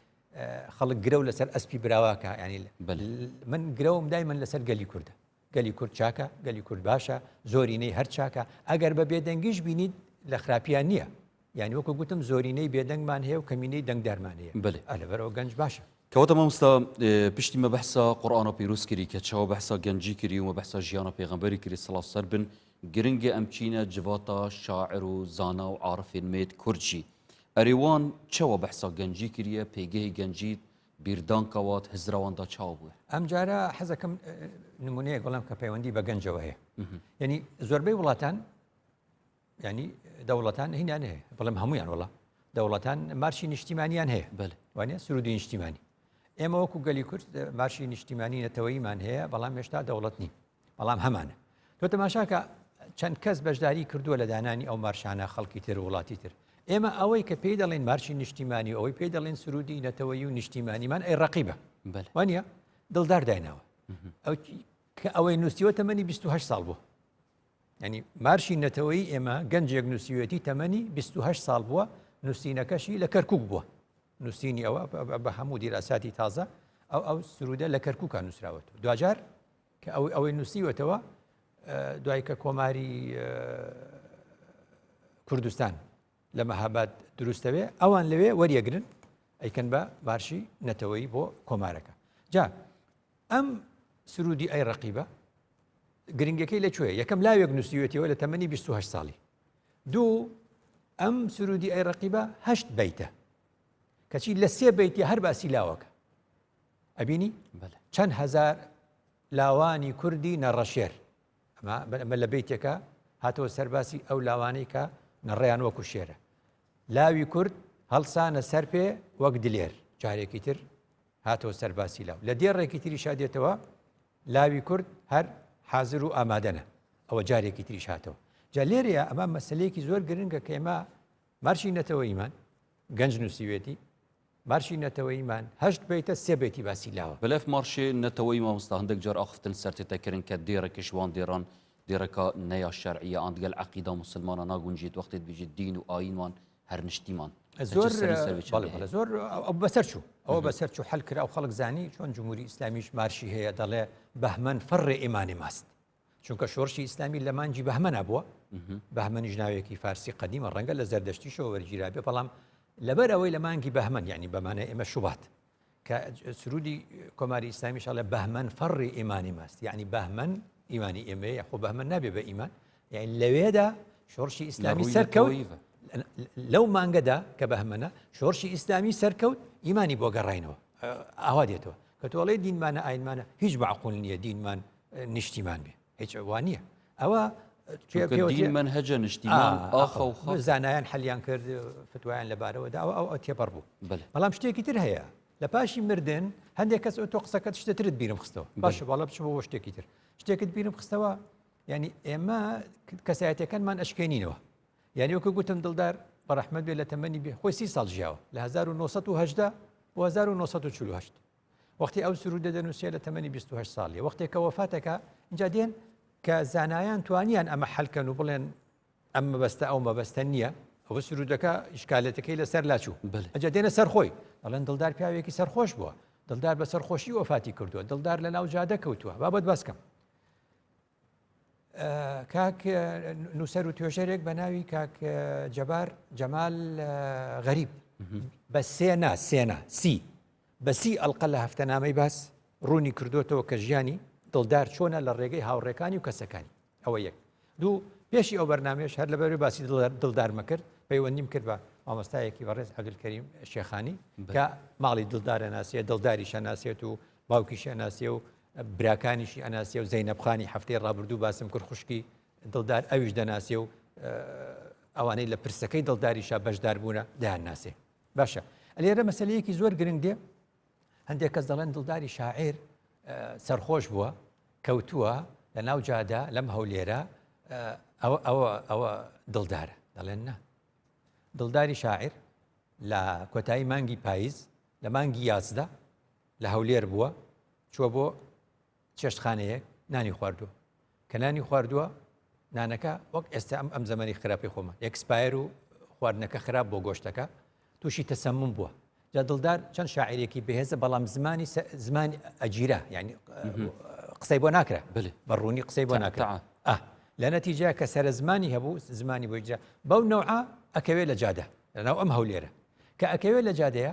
B: خەڵک گرە و لەسەر ئەسپی براواکە ینی من گرەوم دای من لەسەر گەلی کووردە گەلی کورد چاکە گەلی کورد باشە زۆرینەی هەر چاکە ئەگەر بە بێدەنگیش بینیت لە خراپیان نییە یعنی وەکو گوتم زۆرینەی بێدەنگمان هەیە و کەمینەی دەنگدارمان هەیە بلێ ئەلەبەرەوە گەنج باشە کەوتە مامستا
A: پشتی مە بەحسا قورآانە پیرروسکری کە چاوە بەحسا گەنجی کری و مە بەحسا ژیانە پێغمبەری کری سڵاو سەر بن گرنگە ئەم چینە جڤاتا شاعر و زانا و عارفێن مێد کورد ژی ئەرێ وان چەوە بەحسا گەنجی کریە پێگەێ گەنجیت بیردان کەوات هزراوان دا چاو بوێ. ئەمجارە حەزەکەم
B: نمونەیەک بڵم کە پەیوەندی بە گەنجەوە هەیە یعنی زۆربەی وڵاتان ینی دەوڵەتان هینان هەیە بڵم هەمویان وڵە دەوڵەتان مارشی نیشتیمانیان هەیە بەل وانە سرودی نیشتیمانی ئێمە وەکو گەلی کورد مارشی نیشتیمانی نەتەوەیمان هەیە بەڵام هێشتا دەوڵەت نین بەڵام هەمانە تۆ تەماشاکە چەند کەس بەشداری کردووە لە دانانی ئەو مارشانە خەڵکی تر وڵاتی تر ئێمە ئەوەی کە پێی دەڵێن مارشی نیشتیمانی و ئەوەی پێی دەڵێن سرودی نەتەوەی و نیشتیمانیمان ئەی ڕقیبە وانە دڵدار دایناوە ئەو کە ئەوەی نووسیوە تەمەنی 28 ساڵ بوو ینی مارشی نەتەوەی ئێمە گەنجێک نووسیوەتی تەمەنی 28 ساڵ بووە نووسینەکەشی لە کەرکک بووە نووسینی ئەوە بە هەموو دیراساتی تازە ئەو ئەو سرودە لە کەرککە نووسراوەت دوجار کە ئەو ئەوەی نووسیوەتەوە دوای کە کۆماری کوردستان لە مەهاباد دروستەوێ ئەوان لەوێ وەریەگرن ئەیکەن بە بارشی نەتەوەی بۆ کۆمارەکە جا ئەم سرودی ئەی ڕقیبە گرنگەکەی لەکوێ یەکەم لاوێک نووسیوێتەوە لە تەمەنی 28 ساڵی دوو ئەم سرودی ئەی ڕقیبە هەشت بیتە کەچی لە سێ بیتی هەر باسی لاوەکە ئەبینی چەند هەزار لاوانی کوردی نەڕەشێر ئەمە لە بیتێکە هاتەوە سەرباسی ئەو لاوانەی کە نەڕێیان وەکو شێرە لاوی کورد هەڵسانە سەر پێ وەک دلێر جارێکی تر هاتەوە سەرباسی لاو لە دێڕێکی تری شادێتەوە لاوی کورد هەر حاضر و ئامادەنە ئەوە جارێکی تریش هاتەوە جا لێرەیە ئەمە مەسلەیەکی زۆر گرنگە کە ئێمە بارچی نەتەوەییمان، گەنج نووسیوێتی، بارچی نەتەوەییمان هەشت بەیتە سێ بەیتی باسی لاوە. بلف مارشێ نەتەوەیی
A: مامۆستا هەندەک جار ئاخفتن سەرتێتە کرن کە دێڕێ کش وان دێڕان دێڕەکا نەیا شەرعیە ئان دگەل عەقیدا موسلمانا ناگونجێت وەختێت بێژێت دین و ئایین وان هەر نشتیمان زۆر
B: زۆر ئەو بەسەر چوو ئەوە بەسەر چوو حل کرا و خەڵک زانی چۆن جمهوری ئیسلامیش مارشی هەیە دەڵێ بەهمەن فەڕێ ئێمانی ماست چونکە شۆرشی ئیسلامی لە مانجی بەهمەنا بووە بەهمەنیش ناوێکی فارسی قدیمە ڕەنگە لە زەردەشتیشەوە وەرگیرا بێ بەڵام لەبەر ئەوەی لە مانگی بەهمەن ینی بەمانە ئێمە شوبات کە سرودی کۆماری ئیسلامی شڵە بەهمەن فەڕی ئیمانی ماست یعنی بەهمەن ئیمانی ئێمە یخۆ بەهمە نابێ بە ئیمان یعنی لەوێدا شۆرشی ئیسلامی سەرکەوی لەو مانگەدا کە بەهمەە شۆرشی ئیسلامی سەرکەوت ئیمانی بۆ گەڕینەوە ئاوا دێتەوە کە تۆڵێ دینمانە ئاینمانە هیچ بەعقول نییە دینمان نیشتیمان بێ هیچ وانە ئەوە
A: من هەجە نیشتی زانایان
B: حەلیان کرد فتوایان لەبارەوەدا ئەو ئەو تێپەڕ بوو بەڵام شتێکی تر هەیە لە پاشی مردن هەندێک کەس تۆ قسەکەت شتترت بیرم خستەوە باشە باڵە بچ بۆ شتێکی تر شتێکت بیرم خستەوە ینی ئێمە کەسایەتەکانمان ئەشکێنینەوە یعنی وەکە گوتم دڵدار بەڕحمەت بێ لە تەمەنی بێ خۆی سی ساڵ ژیاوە لە 1970 1940 وەختی ئەو سرودە دەنووسێ لە تەمەنی 28 ساڵی وەختێک کە وەفاتەکە اینجا دێن کە زانایان توانیان ئەمە حلکەن و بڵێن ئەم مەبەستە ئەو مەبەستە نییە ئەوە سرودەکە ئیشکالەتەکەی لەسەر لاچوو ئەجا دێنە سەر خۆی ئەڵەن دڵدار پیاوێکی سەرخۆش بووە دڵدار بە سەرخۆشی وەفاتی کردووە دڵدار لە ناو جادە کەوتووە بابەت باسکەم کاک نووسەر و توێژەرێک بە ناوی کاک جەبار جەمال غەریب بە سێنا سێنا سی بەسی ئەلقە لە هەفتەنامەی باس ڕوونی کردوێتەوە کە ژیانی دڵدار چۆنە لە ڕێگەی هاوڕێکانی و کەسەکانی ئەوە یەک دوو پێشی ئەو بەرنمێش هەر لەبەر باسی دڵدارمە کرد پەیوەندیم کرد بە مامۆستایەکی بەڕێز عبدکەریم شێخانی کە ماڵی دڵدارە ناسیە دڵداری شەناسێت و باوکی شەناسیە و براکانیشی ئەناسێ و زەینەب خانی هەفتەی ڕابردوو باسم کرد خوشکی دڵدار ئەویش دەناسێ و ئەوانەی لە پرسەکەی دڵداریشا بەشدار بوونە دایان ناسێ باشە ئەلێرە مەسلەیەکی زۆر گرنگ دێ هەندێک کەس دەڵێن دڵداری شاعر سەرخۆش بووە کەوتووە لە ناو جادا لەم هەولێرە ئەوە ئەوە ئەوە دڵدارە دەڵێن نا دڵداری شاعر لە کۆتایی مانگی پاییز لە مانگی یازدە لە هەولێر بووە چووە بۆ چێشتخانەیەک نانی خواردووە کە نانی خواردووە نانەکە وەک ئێستا ئەم ئەم زمانی خراپی خۆمە ئەکسپایر و خواردنەکە خراپ بۆ گۆشتەکە تووشی تەسەمم بووە جا دڵدار چەند شاعرێکی بەهێزە بەڵام زمانی زمانی ئەگیرا ینی قسەی بۆ ناکرا بە ڕوونی قسەی بۆ ناکرا لە نەتیجا کە سرە زمانی هەبوو زمانی بۆجا بەو نەوە ئەکەوێت لە جادە لەناو ئەم هەولێرە کە ئەکەوێت لە جادەیە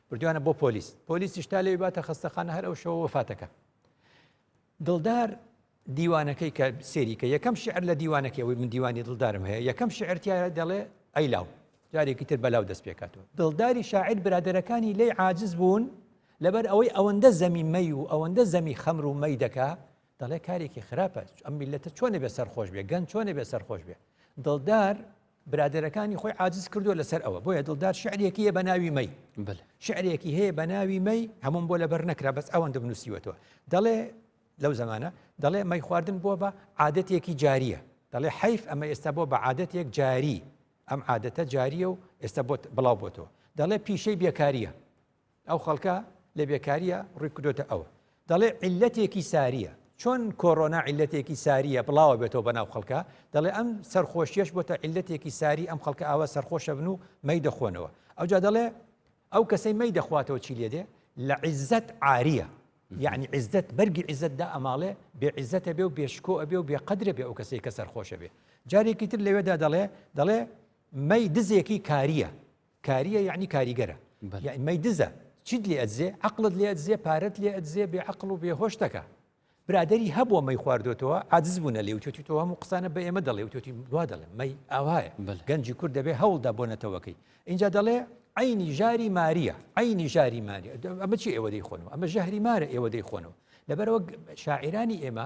B: بردویانە بۆ پۆلیس پۆلیسیش تا لێ باتە خستەخانە هەر ئەو شەوە وەفاتەکە دڵدار دیوانەکەی کە سێریکە یەکەم شعر لە دیوانەکەی ئەوەی من دیوانی دڵدارم هەیە یەکەم شعرتیایە دەڵێ ئەیلاو جارێکی تر بەلاو دەست پێکاتەوە دڵداری شاعر برادەرەکانی لی عاجز بوون لەبەر ئەوەی ئەوەندە زەمی مەی و ئەوەندە زەمی خەمر و مەی دەکا دەڵێ کارێکی خراپە ئەم میلەتە چۆن نەبێ سەرخۆش بێ گەن چۆن نەبێ سەرخۆش بێ دڵدار برادەرەکانی خۆی عادز کردو لەسەر ئەوە بۆیە دڵدار شعرێکی هەیە بە ناوی مەی شعرێکی هەیە بە ناوی مەی هەموم بۆ لەبەر نەکرا بەس ئەوەن دەبنووسیوەتەوە دەڵێ لەو زمانە دەڵێ مەی خواردن بۆ بە عادەتێکی جاریە دەڵێ حیف ئەمە ئێستا بۆ بە عادەتێک جاری ئەم عادەتە جاریە و ئێستا بۆت بڵاو بۆتەوە دەڵێ پیشەی بێکاریە ئەو خەڵکە لە بێکاریە ڕوی کردۆتە ئەوە دەڵێ عیلەتێکی ساریە چۆن کۆرۆنا عیلەتێکی ساریە بڵاوە بێتەوە بە ناو خەڵکە دەڵێ ئەم سەرخۆشیەش بۆتە عیلەتێکی ساری ئەم خەڵکە ئاوا سەرخۆشە بن و مەی دەخۆنەوە ئەوجا دەڵێ ئەو کەسەی مەی دەخواتەوە چی لێ دێ لە عیزەت عاریە یعنی عزت بەرگی عزتدا ئەماڵێ بێ عزتە بێ و بێشکۆ ئەبێ و بێ قدرە بێ ئەو کەسێک کە سەرخۆشە بێ جارێکی تر لەوێدا دەڵێ دەڵێ مەی دزێکی کاریە کاریە یەعنی کاریگەرە یەعنی مەی دزە چیت لێ ئەدزێ عەقڵت لێ ئەدزێ پارەت لێ ئەدزێ بێ عەقڵ و بێ هۆش دەکا برادری هەبووە مەی خواردوێتەوە عاجز بوونە لێ وتێتی تۆ هەموو قسانە بە ئێمە دەڵێ وتێتی دوا دەڵێ مەی ئاوایە گەنجی کورد دەبێ هەوڵدا بۆ نەتەوەکەی اینجا دەڵێ عینی ژاری ماریە عینی ژاری ماریە ئەمە چی ئێوە دەیخۆنەوە ئەمە ژەهری مارە ئێوە دەیخۆنەوە لەبەرەوە شاعرانی ئێمە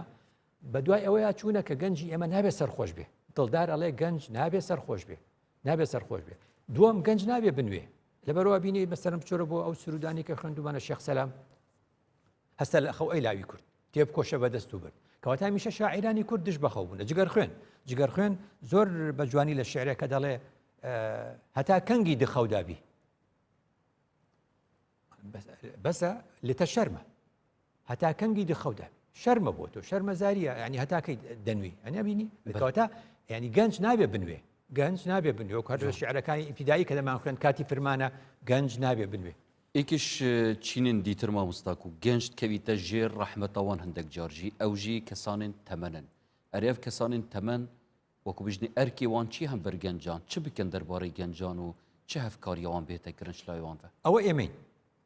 B: بە دوای ئەوەیە چوونە کە گەنجی ئێمە نابێت سەرخۆش بێ دڵدار ئەڵێ گەنج نابێت سەرخۆش بێ نابێت سەرخۆش بێت دووەم گەنج نابێ بنوێ لەبەروا بینی مەسەرم بچۆرە بۆ ئەو سرودانی کە خوێندومانە شێخ سەسلام هەستە لە خەو ئەی لاوی کورد تێب کۆشە بە دەست و برد کەواتە میشە شاعرانی کورد دش بەخەو بوون جگەر خوێن جگەر خوێن زۆر بە جوانی لە شعرەکە دەڵێ هەتا کەنگی دخەودابی بەسە لێتە شەرمە هەتا کەنگی دخەودا شەرمە بۆ تۆ شەرمە زاریە ینی هەتاکەی دەنوی ئەنیا بینی بەکەوتا ینی گەنج نابێ بنوێ گەنج نابێ بنوێ و کار شعرەکانی ئیفیدایی کە دەمان خوێن کاتی فرمانە گەنج نابێ بنوێ ئیکش
A: چینن دیتر مامۆستاک و گەنجت کەویتە ژێر ڕەحمەتەوان هەندێک جارژی ئەوژی کەسانن تەمەنن ئەرێف کەسانن تەمەن وەکو بژنی ئەرکێ وان چی هەن بەر گەنجان، چ بکەن دەربارەی گەنجان و چ هەڤکاریە وان بێتە گرنچ لای وان ڤە؟ ئەوە ئێمەین،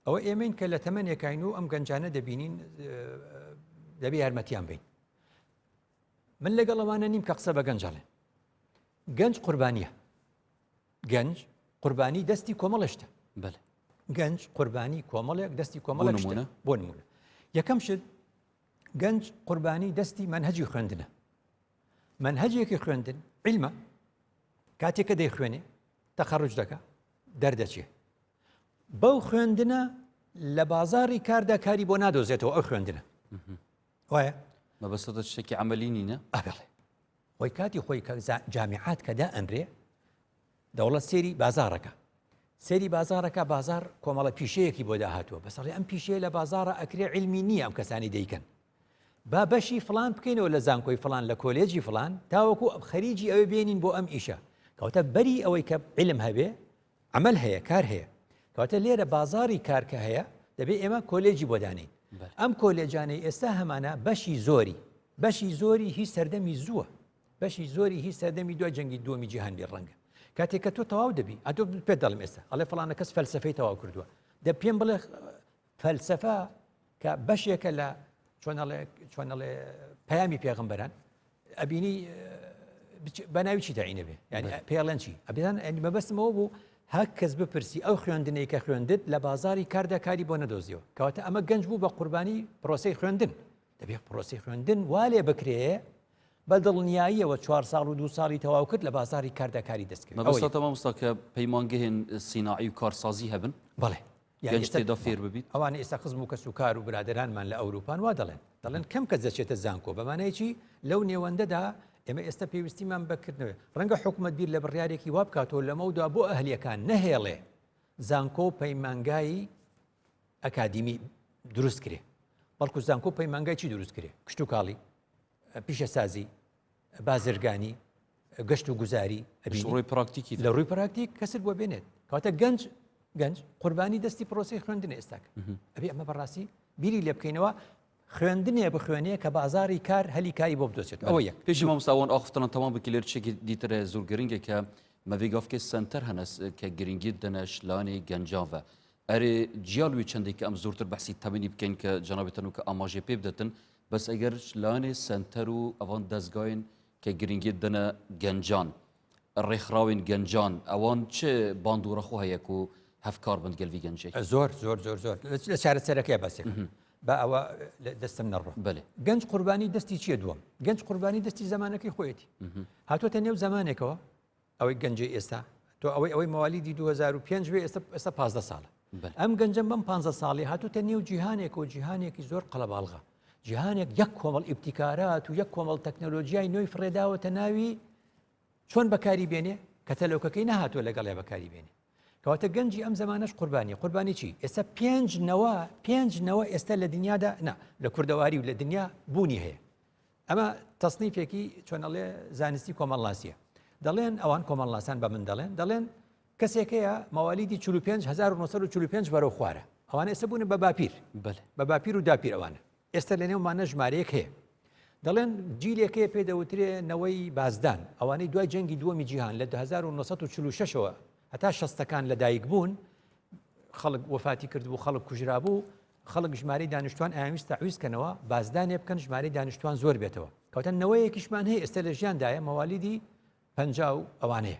A: ئەوە
B: ئێمەین کە لە تەمەنێکاین و ئەم گەنجانە دەبینین دەبێ یارمەتیان بین. من لەگەڵ ئەوانە نیم کە قسە بە گەنج ئەڵێن. گەنج قوربانیە. گەنج قوربانی دەستی کۆمەڵشتە بەل
A: گەنج
B: قوربانی کۆمەڵێک دەستی کۆمەڵ نمونە بۆ نمونە یەکەم شت گەنج قوربانی دەستی منهجی خوێندنە مەنهەجێکی خوێندن عیلمە کاتێک کە دەیخوێنێ تەخەڕج دەکە دەردەچێ بەو خوێندنە لە بازاری کاردا کاری بۆ نادۆزێتەوە ئەو خوێندنە وایە مەبەسەدە
A: شتێکی ئەمەلینینە ئەڵێ
B: خۆی کاتی خۆی کە جامیعات کەدا ئەنرێ دەوڵەت سەیری بازاڕەکە سەیری بازارەکە بازار کۆمەڵە پیشەیەکی بۆ داهاتوە بەسەڵی ئەم پیشەیە لە بازارە ئەکرێ علمی نییە ئەم کەسانی دەیکەن با بەشی فلان بکەینەوە لە زانکۆی فلان لە کۆلێجی فلان تاوەکو خەریجی ئەوێ بێنین بۆ ئەم ئیشە کەوتە بەری ئەوەی کە علم هەبێ عمل هەیە کار هەیە کەوتە لێرە بازاری کارکە هەیە دەبێ ئێمە کۆلێجی بۆ دانین ئەم کۆلێجانەی ئێستا هەمانە بەشی زۆری بەشی زۆری هی سەردەمی زووە بەشی زۆری هی سەردەمی دوای جەنگی دووەمی جیهان بێ ڕەنگە کاتێک کە تۆ تەواو دەبی ئەتۆ پێ دەڵم ئێستا ئەڵێ فلانە کەس فەلسفەی تەواو کردووە دە پێم بڵێ فەلسفە کە بەشێکە لە چۆنەڵێ پەیامی پێغمبەران ئەبینی بەناوی چی داینە بێ ینی پێڵەن چی ئەبیان ئەنی مەبەستمەوە بوو هەک کەس بپرسی ئەو خوێندنەی کە خوێندت لە بازاری کاردا کاری بۆ نەدۆزیەوە کەواتە ئەمە گەنج بوو بە قوربانی پرۆسی خوێندن دەبێت پرۆسەی خوێندن وا لێ بکرێ بە دڵنیاییەوە چوار ساڵ و دو ساڵی تەواو کرد لە بازاری کاردا کاری دەستکرد مەبەستە مامۆستا کە
A: پەیمانگەهێن سیناعی و کارسازی هەبن بەڵێ یعنی گەنج
B: تێدا فێر
A: ببیت ئەوانە ئێستا خزم و کەس و
B: کار و برادرانمان لە ئەوروپان وا دەڵێن دەڵێن کەم کەس دەچێتە زانکۆ بەمانەیەکی لەو نێوەندەدا ئێمە ئێستا پێویستیمان بکردنەوە ڕەنگە حکوومەت بیر لە بڕیارێکی وا بکاتەوە لەمەودا بۆ ئەهلیەکان نەهێڵێ زانکۆ و پەیمانگایی ئەکادیمی دروست کرێ بەڵکو زانکۆ و پەیمانگای چی دروست کرێ کشتتوکاڵی پیشەسازی بازرگانی گەشت و گوزاری ئەبیڕۆی پراکتیکی
A: لە ڕووی پراکتیک
B: کەسر بۆ بێنێت کاتە گەنج گەنج قوربانی دەستی پرۆسی خوێندن ئێستاک ئەبێ ئەمە بەڕاستی بیری لێ بکەینەوە خوێندنێ بخوێنێ کە بازاری کار هەلی کاری بۆ بدۆزێت ئەوە یەک پێشی مامۆستا وان ئاخ تەنان
A: تەمام بکی لێر چێکی دیتر زور گرنگێ کە مەڤی گافکێ سەنتەر هەنەس کە گرنگی دەنە شلانی گەنجان ڤە ئەرێ جیال وی چەندێ کە ئەم زورتر بەحسی تەمەنی بکەین کە جەنابێ تەنوو کە ئاماژێ پێ بدەتن بەس ئەگەر شلانێ سەنتەر و ئەڤان دەزگاین کە گرنگی دەنە گەنجان ڕێکخراوین گەنجان ئەوان چ باندوڕەخۆ هەیەک و هەفکار بند گەلوی گەنجێک زۆر زۆر زۆر زۆر
B: لە چارەسەرەکەی بەسێک بە ئەوە دەستم نەڕوە بەێ گەنج قوربانی
A: دەستی
B: چیە دووەم گەنج قوربانی دەستی زمانەکەی خۆیەتی هاتوۆتە نێو زمانێکەوە ئەوەی گەنجی ئێستا تۆ ئەوەی ئەوەی موالیدی 2005 ئێستا ئێستا 15 ساڵە ئەم گەنجم بەم 15 ساڵی هاتوتە نێو جیهانێک و جیهانێکی زۆر قەلەباڵغە جیهانێک یەک کۆمەڵ ئیبتیکارات و یەک کۆمەڵ تەکنەلۆژیای نوێی فرێداوەتە ناوی چۆن بەکاری بێنێ کە تەلۆکەکەی نەهاتوە لەگەڵێ بەکاری بێنێ کەواتە گەنجی ئەم زمانەش قوربانی قوربانی چی ئێستا پێنج نەوە پێنج نەوە ئێستا لە دنیادا نا لە کوردەواری و لە دنیا بوونی هەیە ئەمە تەسنیفێکی چۆنەڵێ زانستی کۆمەڵناسیە دەڵێن ئەوان کۆمەڵناسان بە من دەڵێن دەڵێن کەسێکەیە مەوالیدی 45 1945 بەرەو خوارە ئەوانە ئێستا بوون بە باپیر بە باپیر و داپیرەوانە ئێستا لە نێومانە ژمارەیەک هەیە دەڵێن جیلێک هەیە پێ دەوترێ نەوەی بازدان ئەوانەی دوای جەنگی دووەمی جیهان لە 1946ەوە هەتا شەستەکان لەدایک بوون خەڵک وفاتی کردبوو خەڵک کوژرا بوو خەڵک ژماری دانیشتوان ئاویست تاویستکەنەوە بازدانێ بکەن ژماری دانیشتوان زۆر بێتەوە کەوتن نەوەیەکیشمان هەیە ئێستا لە ژیاندایە مەوالیدی پ ئەوانەیە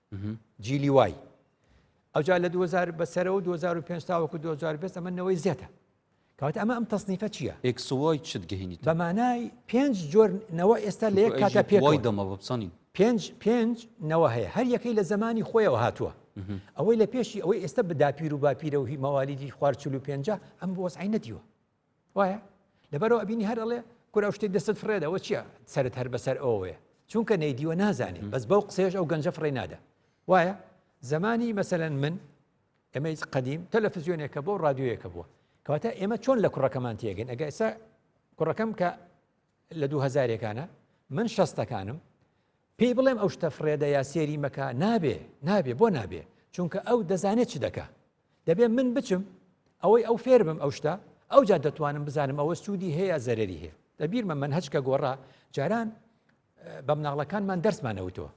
B: جیلی وای ئەوجا لە 2000 بەسەرەوە 2005 تاوەکو 2020 ئەمە نەوەی زێتە کەواتە ئەمە ئەم تەسنیفە چییە ئەکسوای چت گەهینی
A: بەمانای پێنج
B: جۆر نەوە ئێستا لە یەک کاتە پێوەی دەمە بپسانی
A: پێنج
B: پێنج نەوە هەیە هەر یەکەی لە
A: زمانی
B: خۆیەوە هاتووە ئەوەی لە پێشی ئەوەی ئێستا بداپیر و باپیرە و هی مەوالیدی خوارچلو پێنج ئەم بۆسعی نەدیوە وایە لەبەرەوە ئەبینی هەر ئەڵێ کورە ئەو شتێک دەستت فڕێدەوە چییە سرت هەر بەسەر ئەوەیە چونکە نەیدیوە نازانین بەس بەو قسێش ئەو گەنجە فڕێ نادا وایە زمانی مەسەەن من ئەمە هیچ قدیم تەلەفزیۆنێکە بۆ رادیۆیەکە بووە کەواتە ئێمە چۆن لە کوڕەکەمان تێگەن ئەگە ئێستا کوڕەکەم کە لە دوو هزارێکانە من شەستەکانم پێی بڵێم ئەو شتە فرێدە یا سێری مەکە نابێ نابێ بۆ نابێ چونکە ئەو دەزانێت چ دەکە دەبێ من بچم ئەوەی ئەو فێر بم ئەو شتە ئەوجا دەتوانم بزانم ئەوە سوودی هەیە زەرری هەیە لە بیرمە من هەچکە گۆڕا جاران بە مناڵەکانمان دەرسمانەوتەوە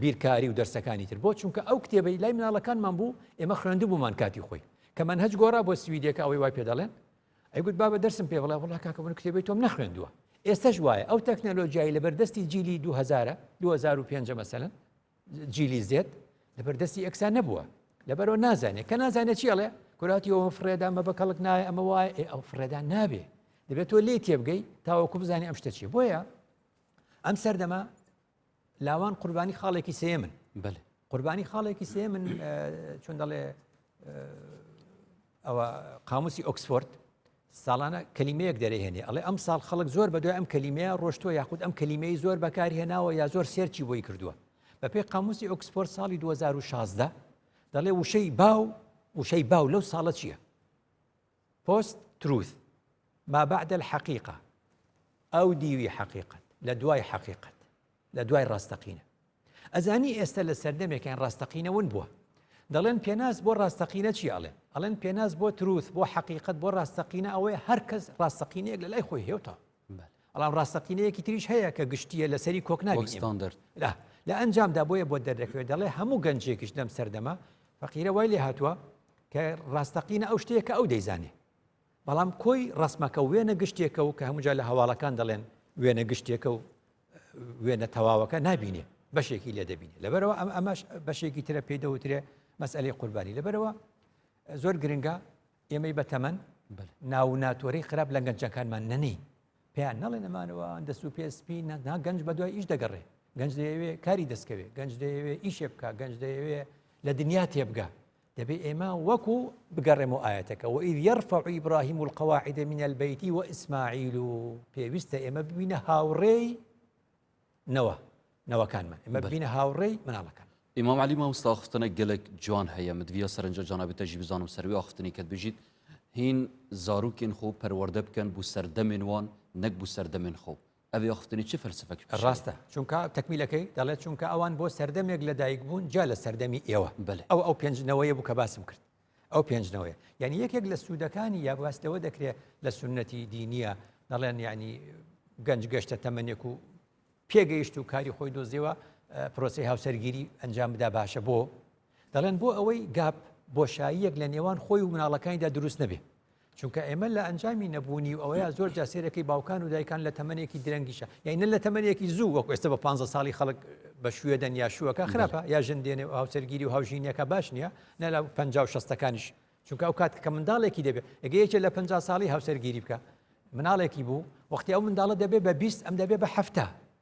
B: بیرکاری و دەرسەکانی تر بۆ چونکە ئەو کتێبەی لای مناڵەکانمان بوو ئێمە خوێندبوومان کاتی خۆی کە من هەچ گۆڕا بۆ سویدێکە ئەوەی وای پێ دەڵێن ئەیگوت بابە دەرسم پێ بڵێ وڵا کاکە من کتێبی تۆم نەخوێندووە ئێستش وایە ئەو تەکنەلۆژیایی لەبەردەستی جیلی 2000 2005 مەسەن جیلی زێت لەبەر دەستی ئەکسان نەبووە لەبەرەوە نازانێت کە نازانێت چی ئەڵێ کوراتی ئەوم فرێدا مە بە کەڵک نایە ئەمە وایە ئێ ئەو فرێدا نابێ دەبێت تۆ لێ تێبگەی تاوەکو بزانانی ئەم شتە چی بۆیە ئەم سەردەما لاوان قوربانی خاڵێکی سێ من بەێ قوربانی خاڵێکی سێ من چون دەڵێ ئەوە قاموسی ئۆکسفۆرد ساڵانە کەلیمەیەک دەرێنێ ئەڵێ ئەم ساڵ خەڵک زۆر بە دوای ئەم کەلیمەیە ڕۆشتوە یاخود ئەم کەلیمەی زۆر بەکاری هێناوە یا زۆر سێرچی بۆی کردووە بەپی قاموسی ئۆکسفۆرد ساڵی 2016 دەڵێ وشەی باو وشەی باو لەو ساڵە چییە؟ پۆست تروث ما بعد الحقيقة ئەو دیوی حقیقت لە دوای حقیقت لە دوای ڕاستەقینە ئەزانی ئێستە لە سەردەمێکین ڕاستەقینە ون بووە دەڵێن پێناس بۆ ڕاستەقینە چی ئەڵێن ئەڵێن پێناس بۆ تروس بۆ حقیقت بۆ ڕاستەقینە ئەوەیە هەرکەس ڕاستەقینەیەک لە لای خۆی هێوتا ئەڵام ڕاستەقینەیەکی تریش هەیە کە گشتیە لەسەری کۆکناویستان دەرد لە ئەنجامدا بۆیە بۆ دەردەکەوێت دەڵێ هەموو گەنجێکیش لەم سەردەمە فەقیرە وای لێ هاتووە کە ڕاستەقینە ئەو شتەیە کە ئەو دەیزانێ بەڵام کۆی ڕەسمەکە وێنە گشتێکە و کە هەمووجا لە هەواڵەکان دەڵێن وێنە گشتێکە و وێنە تەواوەکە نابینێ بەشێکی لێ دەبینێ لەبەرەوە ئەم ئەمەش بەشێکی ترە پێی دەوترێ مەسئلەی قوربانی لەبەرەوە زۆر گرنگە ئێمەی بەتەمەن ناو ناتۆری خراپ لە گەنجەکانمان نەنی پێیان نەڵێ نەمانەوە دەست و پێسپی نەنا گەنج بە دوای ئیش دەگەڕێ گەنج دەیەوێ کاری دەستکەوێ گەنج دەیەوێ ئیشێ بکە گەنج دەیەوێ لە دنیا تێبگە دەبێ ئێمە وەکو بگەڕێمەوە ئاەتەکە و ئید یرفع ئیبراهیم القواعد من البیت و ئیسماعیل و پێویستە ئێمە ببینە هاوڕێی نەوە نەوەکانمان ئمە ببینە هاوڕێی مناڵەکان ئیمام علی مامستا
A: خستنە گەلک جوان هەیە مدویە سەرنج جانابێتەژی بزانم سەروی ئاخفتنی کە بژیت هین زارروکین خۆ پەروەەردە بکەن بوو سەردەمێن وان نەک بوو سەردەمێن خۆ ئەڤ یۆخفتنی چ فەلسەفەک پیشەیە؟ ڕاستە چونکە
B: تەکمیلەکەی دەڵێت چونکە ئەوان بۆ سەردەمێک لە دایک بوون جیا لە سەردەمی ئێوە بەلێ. ئەو ئەو پێنج نەوەیە بوو کە باسم کرد ئەو پێنج نەوەیە یعنی یەکێک لە سوودەکانی یا باس لەوە دەکرێت لە سنەتی دینیە دەڵێن یعنی گەنج گەشتە تەمەنێک و پێگەیشت و کاری خۆی دۆزیەوە پرۆسی هاوسەرگیری ئەنجام بدا باشە بۆ دەڵێن بۆ ئەوەی گاپ بۆشاییەک لە نێوان خۆی و مناڵەکانیدا دروست نەبێ چونکە ئێمە لە ئەنجامی نەبوونی و ئەوەیە زۆر جا سێرەکەی باوکان و دایکان لە تەمەنێکی درەنگیشە یعنی نە لە تەمەنێکی زوو وەکو ئێستا بە 15 ساڵی خەڵک بە شوێ دەن یا شووەکە خراپە یا ژن دێنێ و هاوسەرگیری و هاوژینەکە باش نییە نە لە پ و شستەکانیش چونکە ئەو کات کە منداڵێکی دەبێت ئەگە یەکێ لە پ ساڵی هاوسەرگیری بکە مناڵێکی بوو وەختی ئەو منداڵە دەبێت بە بیست ئەم دەبێت بە هەفتا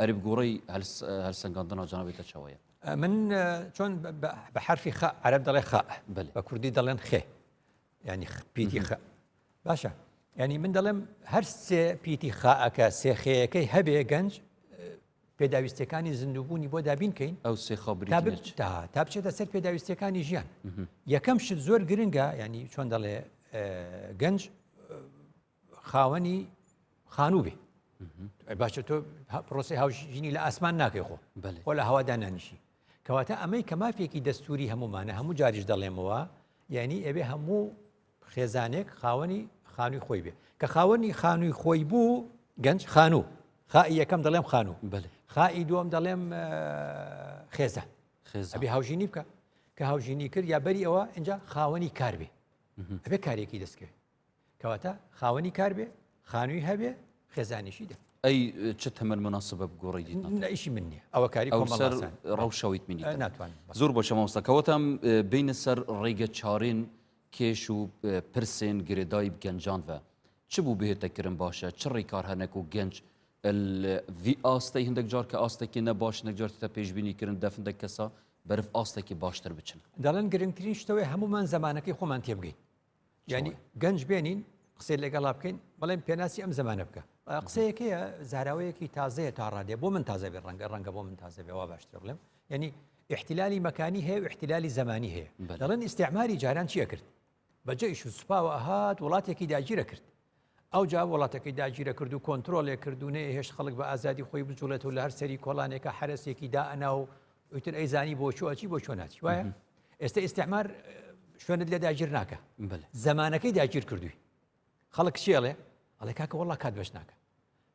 A: ئەرب گوڕی هەلسەنگاندنا جەنابی تە چەوەیە من
B: چۆن بە حرفی خە عرب دەڵێ خە بە کوردی دەڵێن خێ ینی پیتی خە باشە ینی من دەڵێم هەر سێ پیتی خاکە سێخەیەەکەی هەبێ گەنج پێداویستەکانی زیندوبوونی بۆ دابینکەین ئەو سێخە
A: تا بچێتە
B: سەر پێداویستەکانی ژیان یەکەم شت زۆر گرنگە ینی چۆن دەڵێ گەنج خاوەنی خانوو بێ باشە تۆ پرۆسی هاوژینی لە ئاسمان ناکەی خۆ خۆ لە هەوادا نانیشی کەواتە ئەمەی کە مافێکی دەستوری هەمومانە هەموو جاریش دەڵێمەوە یعنی ئەوێ هەموو خێزانێک خاوەنی خانووی خۆی بێ کە خاوەنی خانووی خۆی بوو گەنج خانوو خائی یەکەم دەڵێم خانوو خائی دووەم دەڵێم خێزە خێزبی هاوژینی بکە کە هاوژینی کرد یا بەری ئەوە اینجا خاوەنی کار بێ ئەبێ کارێکی دەستکرد کەواتە خاوەنی کار بێ خانووی هەبێ خێزانیشی دە ئەی چ تەمەەر
A: مناسبە بگۆڕی دیت لەئیشی من نیە
B: ئەوە کاری کۆمەسەر
A: ڕەوشەویت منی ناتوان زۆر بۆ
B: شەمەستەکەوەتەم
A: بینە سەر ڕێگە چارێن کێش و پرسێن گرێدای گەنجان بە چ بوو بهێتەکردن باشە چ ڕێکار هەنەک و گەنج وی ئاستەی هەندێک جار کە ئاستێکی نەباش نەجار تە پێشببینی کردن دەفندە کەسا بەرف ئاستێکی باشتر بچن دەڵێن گرنگترین
B: شتەوەی هەمومان زمانەکەی خۆمان تێبگەین یعنی گەنج بێنین قسەی لەگەڵا بکەین بەڵێن پێناسی ئەم زمانە بکە قسەیەکەیە زاراوەیەکی تازەیە تا ڕادێ بۆ من تازە بێ ڕەنگە ڕەنگە بۆ من تازە بێوا باشتر بڵێم یعنی احتلالی مەکانی هەیە و احتلالی زمانی هەیە دەڵێن ئیسعماری جاران چیە کرد بەجێش و سوپاوە هاات وڵاتێکی داگیرە کرد ئەوجا وڵاتەکەی داگیرە کرد و کۆنترۆڵێ کرد و نەیهێشت خەڵک بە ئازادی خۆی بجوڵێت و لە هەر سەری کۆڵانێکە حرەسێکی دائەنا و ئیتر ئەیزانی بۆ چوە چی بۆ چۆ ناچی وایە ئێستا ئیسعمار شوێنت لێ داگیر ناکە زمانەکەی داگیر کردووی خەڵک چێڵێ ئەڵێ کاکە وڵا کات بەش ناکە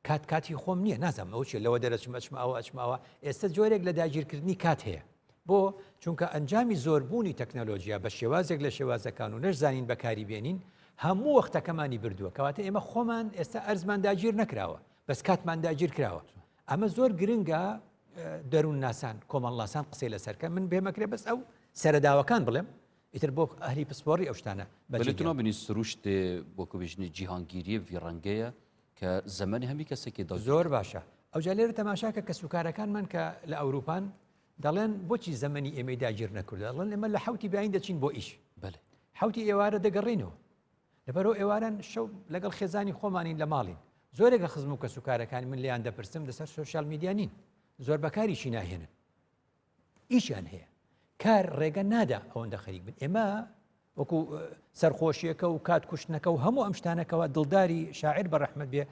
B: کات کاتی خۆم نییە نازانم ئەو چێ لەوە دەرەچم ئەچم ئەوە ئەچم ئەوە ئێستا جۆرێک لە داگیرکردنی کات هەیە بۆ چونکە ئەنجامی زۆربوونی تەکنەلۆژیا بە شێوازێک لە شێوازەکان و نەشزانین بەکاری بێنین هەموو وەختەکەمانی بردووە کەواتە ئێمە خۆمان ئێستا ئەرزمان داگیر نەکراوە بەس کاتمان داگیر کراوە ئەمە زۆر گرنگە دەروون ناسان کۆمەڵناسان قسەی لەسەرکە من بێمەکرێ بەس ئەو سەرداوەکان بڵێم ئیتر بۆ ئەهلی پسپۆری ئەو شتانە بەلتنۆ بنی
A: سروشت بۆ کوبژنی جیهانگیری وی ڕەنگەیە کە زەمەنی هەمی کەسێکی دڵ زۆر باشە ئەوجا
B: لێرە تەماشاکە کە سوکارەکانمان کە لە ئەوروپان دەڵێن بۆچی زەمەنی ئێمەی داگیر نەکردە ڵەن ئێمە لە حوتی بیاین دەچین بۆ ئیش بەێ حوتی ئێوارە دەگەڕینەوە لەبەرەوە ئێواران شەو لەگەڵ خێزانی خۆمانین لە ماڵین زۆرێک لە خزم و کەسوکارەکان من لیان دەپرسم لەسەر سوسیال میدیانین زۆر بەکاریی ناهێنن ئیشیان هەیە کار ڕێگە نادا ئەوەندە خەریک بن ئێمە وەکو سەرخۆشیەکە و کات کوشتنەکە و هەموو ئەم شتانەکەەوە دڵداری شاعر بە ڕەحمەت بێ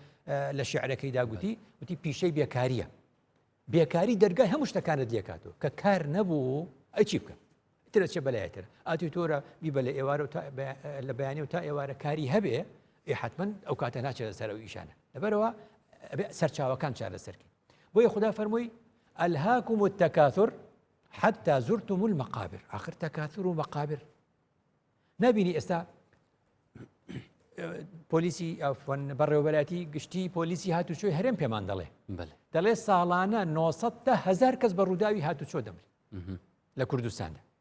B: لە شعرەکەی داگوتی وتی پیشەی بێکاریە بێکاری دەرگای هەموو شتەکانت لێکاتەوە کە کار نەبوو ئەچی بکە ترە چێ بەلایتر ئاتی تۆرە بیبە لە ئێوارە و لە بەیانی و تا ئێوارە کاری هەبێ ئێ حتمما ئەو کاتە ناچێت سەر و ئیشانە لەبەرەوە سەرچاوەکان چارە سەرکە بۆیە خدا فەرمووی الهاکم التکاثر حتی زرتم المقابر آخر تکاثر و مقابر نبینی ئێستا پۆلیسی بەڕێوەبەراتی گشتی پۆلیسی هاتوچۆی هەرێم پێمان دەڵێ دەڵێ ساڵانە 900 هزار کەس بە ڕووداوی هاتوچۆ دەمرێت لە کوردستاندا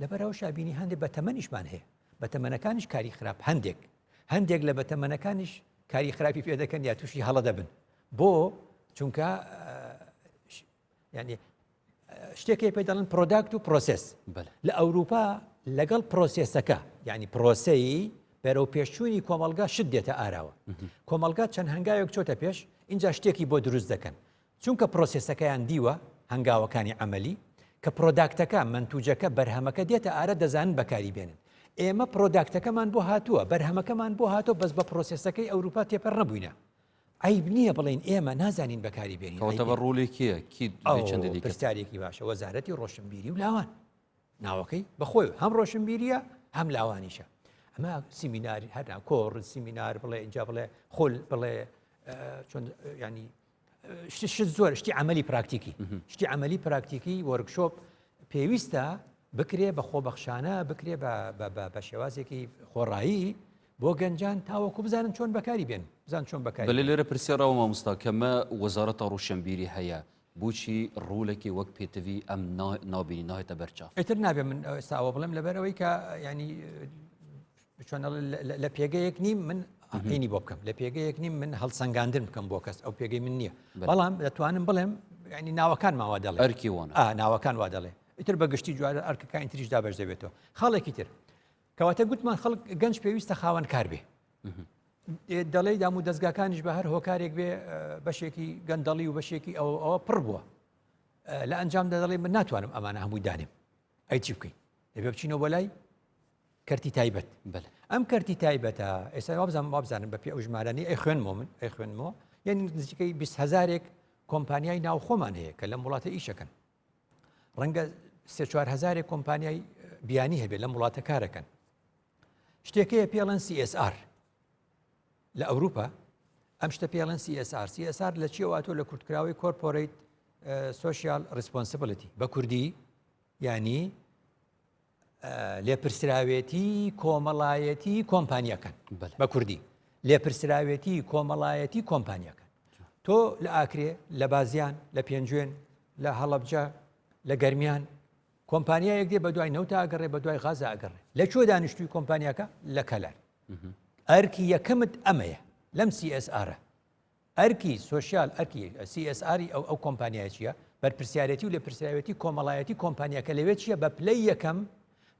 B: لەبەر ئەوە شابینی هەندێک بە تەمەنیشمان هەیە بە تەمەنەکانیش کاری خراپ هەندێک هەندێک لە بە تەمەنەکانیش کاری خراپی پێ دەکەن یا تووشی هەڵە دەبن بۆ چونکە ینی شتێکی پێ دەڵن پرۆداکت و پرۆسس لە ئەوروپا لەگەڵ پرۆسسەکە ینی پرۆسەی بەرەو پێشچووی کۆمەلگا شت دێتە ئاراوە کۆمەلگا چەند هەنگاوێک چۆتە پێش اینجا شتێکی بۆ دروست دەکەن چونکە پرۆسێسەکەیان دیوە، هەنگاوەکانی عەمەلی، کە پرۆداکتەکە، مەنتوجەکە، بەرهەمەکە دێتە ئارا دەزانن بەکاری بێنن. ئێمە پرۆداکتەکەمان بۆ هاتووە، بەرهەمەکەمان بۆ هاتووە بەس بە پرۆسێسەکەی ئەوروپا تێپەر نەبووینە. عەیب نییە بڵێین ئێمە نازانین بەکاری بێنین. کەواتە بە ڕۆڵی کێیە؟
A: کی دووی چەندی دیکەت؟
B: پرسیارێکی باشە، وەزارەتی ڕۆشنبیری و لاوان. ناوەکەی بە خۆی هەم ڕۆشنبیرییە هەم لاوانیشە. ئەمە سیمیناری هەر کۆڕ، سیمینار بڵێ ئینجا بڵێ خول بڵێ چۆن ینی شت شت زۆر شتی عملی پراکتیکی شتی عملی پراکتیکی وەرگشۆپ پێویستە بکرێ بە خۆبەخشانە بکرێ بە شێوازێکی خۆڕایی بۆ گەنجان تاوەکو بزانن چۆن بەکاری بێن بزان
A: چۆن
B: بەکاری
A: لە لێرە پرسێڕەوە
B: مامۆستا
A: کەمە وەزارەتە
B: ڕوشنبیری هەیە
A: بچی ڕوولێکی وەک پێتوی ئەم نابینی نایێتە بەرچاو ئەتر نابێ من
B: ساوە بڵێم لەبەرەوەی کە ینی چۆن لە پێگەیەک نیم من ئەقینی بۆ بکەم لە پێگەیەک نیم من هەڵسەنگاندن بکەم بۆ کەس ئەو پێگەی من نییە بەڵام دەتوانم بڵێم ینی ناوەکان ماوا دەڵێ ئەرکی وۆن ناوەکان
A: وا دەڵێ
B: ئیتر بە گشتی جوارە ئەرکەکانی تریش دابش دەبێتەوە خاڵێکی تر کەواتە گوتمان خەڵک گەنج پێویستە خاوەن کار بێ دەڵێ دام و دەستگاکانیش بە هەر هۆکارێک بێ بەشێکی گەندەڵی و بەشێکی ئەو ئەوە پڕ بووە لە ئەنجام دەدەڵێ من ناتوانم ئەمانە هەمووی دانێم ئەی چی بکەین دەبێ بچینەوە بەلای کەرتی تایبەت بەلێ ئەم کەرتی تایبەتە ئێستا وابزان وابزانم بە پێ ئەو ژمارانی ئەی خوێنمەوە من ئەی خوێنمەوە یعنی نزیکەی 20 هزارێک کۆمپانیای ناو خۆمان هەیە کە لەم وڵاتە ئیشەکەن ڕەنگە سێ چوار هزارێک کۆمپانیای بیانی هەبێت لەم وڵاتە کارەکەن شتێکەیە پێڵەن CSR لە ئەوروپا ئەم شتە پێڵەن CSR CSR لە چیەوەاتۆ لە کورتکراوی کۆرپۆریت سوسیال ریسپۆنسبلتی بە کوردی ینی لێپرسراوێتی کۆمەڵایەتی کۆمپانیەکەن بە کوردی لێپرسراوێتی کۆمەڵایەتی کۆمپانیەکەن تۆ لە ئاکرێ لە بازیان لە پێنجوێن لە هەڵبجە لە گەرمیان کۆمپانیایەک دێ بە دوای نەوتا ئەگەڕێ بە دوای غازە ئەگەڕێ لە کوێ دانیشتوی کۆمپانیەکە لە کەلار ئەرکی یەکەمت ئەمەیە لەم CSR ئەرکی سۆشیال ئەرکی، CSR، ی ئەو ئەو کۆمپانیایە چییە؟ بەرپرسیارێتی و لێپرسراوێتی کۆمەڵایەتی کۆمپانیاکە لەوێ چییە؟ بە پلەی یەکەم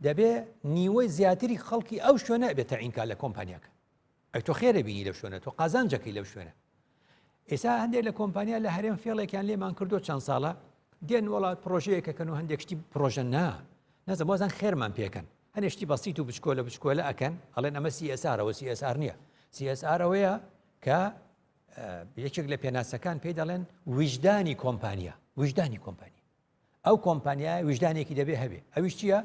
B: دەبێ نیوەی زیاتری خەڵکی ئەو شوێنە بێ تەعین کا لە کۆمپانیاکە ئەی تۆ خێرە بینی لەو شوێنە تۆ قازانجەکەی لەو شوێنە ئێسا هەندێک لە کۆمپانیا لە هەرێم فێڵێکیان لێمان کردو چەند ساڵە دێن وڵات پرۆژەیەکەکەن و هەندێک شتی پرۆژە نا نەزە بۆزان خێرمان پێکەن هەنێشتی بەسییت و بچکۆلە بچکۆلە ئەکەن ئەڵێن ئەمە سیئسارەوە سیئسار نییە سیئسارەوەیە کە یەکێک لە پێناسەکان پێی دەڵێن ویژدانی کۆمپانیا ویژدانی کۆمپانیا ئەو کۆمپانیا ویژدانێکی دەبێ هەبێ ئەویش چییە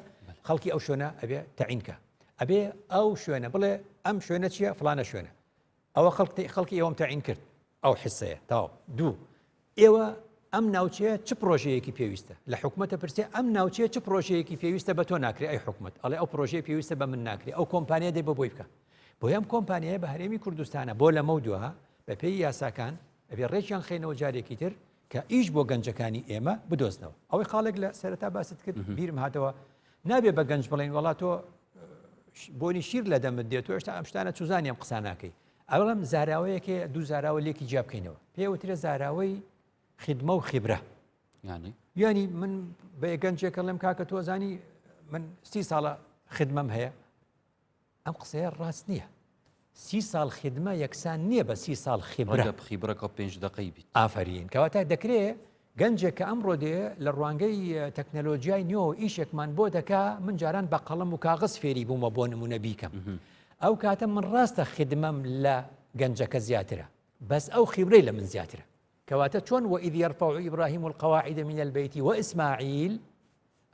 B: خەڵکی ئەو شوێنە ئەبێ تەعینکە ئەبێ ئەو شوێنە بڵێ ئەم شوێنە چییە فلانە شوێنە ئەوە خەڵکی خەڵکی ئەوم تەعین کرد ئەو حسەیە تاو دوو ئێوە ئەم ناوچەیە چ پرۆژەیەکی پێویستە لە حکوومەتە پرسێ ئەم ناوچەیە چ پرۆژەیەکی پێویستە بە تۆ ناکرێ ئەی حکوومەت ئەڵێ ئەو پرۆژەیە پێویستە بە من ناکرێ ئەو کۆمپانیا دێ بە بۆی بکە بۆ یام کۆمپانیایە بە هەرێمی کوردستانە بۆ لەمە و دوها بەپێی یاساکان ئەبێ ڕێکیان خینەوە جارێکی تر کە ئیش بۆ گەنجەکانی ئێمە بدۆزنەوە ئەوەی خاڵێک لە سەرتا باست کرد بیرم هاتەوە نابێ بە گەنج بڵێن وڵات تۆ بۆنی شیر لە دەمت دێت تۆ هێشتا ئەم شتانە چوزانیم قساناکەی ئەڵێم زاراوەیەکێ دوو زاراوە لێکی جیا بکەینەوە پێوترە زاراوەی خدمە و خیبرە ینی ینی من بە گەنجێکە لەم کاکە تۆزانی من سی ساڵە خدمەم هەیە ئەم قسەیە ڕاست نییە سی ساڵ خدمە یەکسان نییە بە سی ساڵ خیبرە خیبرەکە پێنج
A: دقی بیت ئافرین کەواتە
B: دەکرێت گەنجێک کە ئەمڕۆ دێ لە ڕوانگەی تەکنەلۆجیای نوێەوە ئیشێکمان بۆ دەکا من جاران بە قەڵم و کاغز فێری بوومە بۆ نمونە بیکەم ئەو کاتە من ڕاستە خدمەم لە گەنجەکە زیاترە بەس ئەو خیورەی لە من زیاترە کەواتە چۆن وە ئیدی ڕفە و ئیبراهیم و القواعدە من البیتی وە ئیسماعیل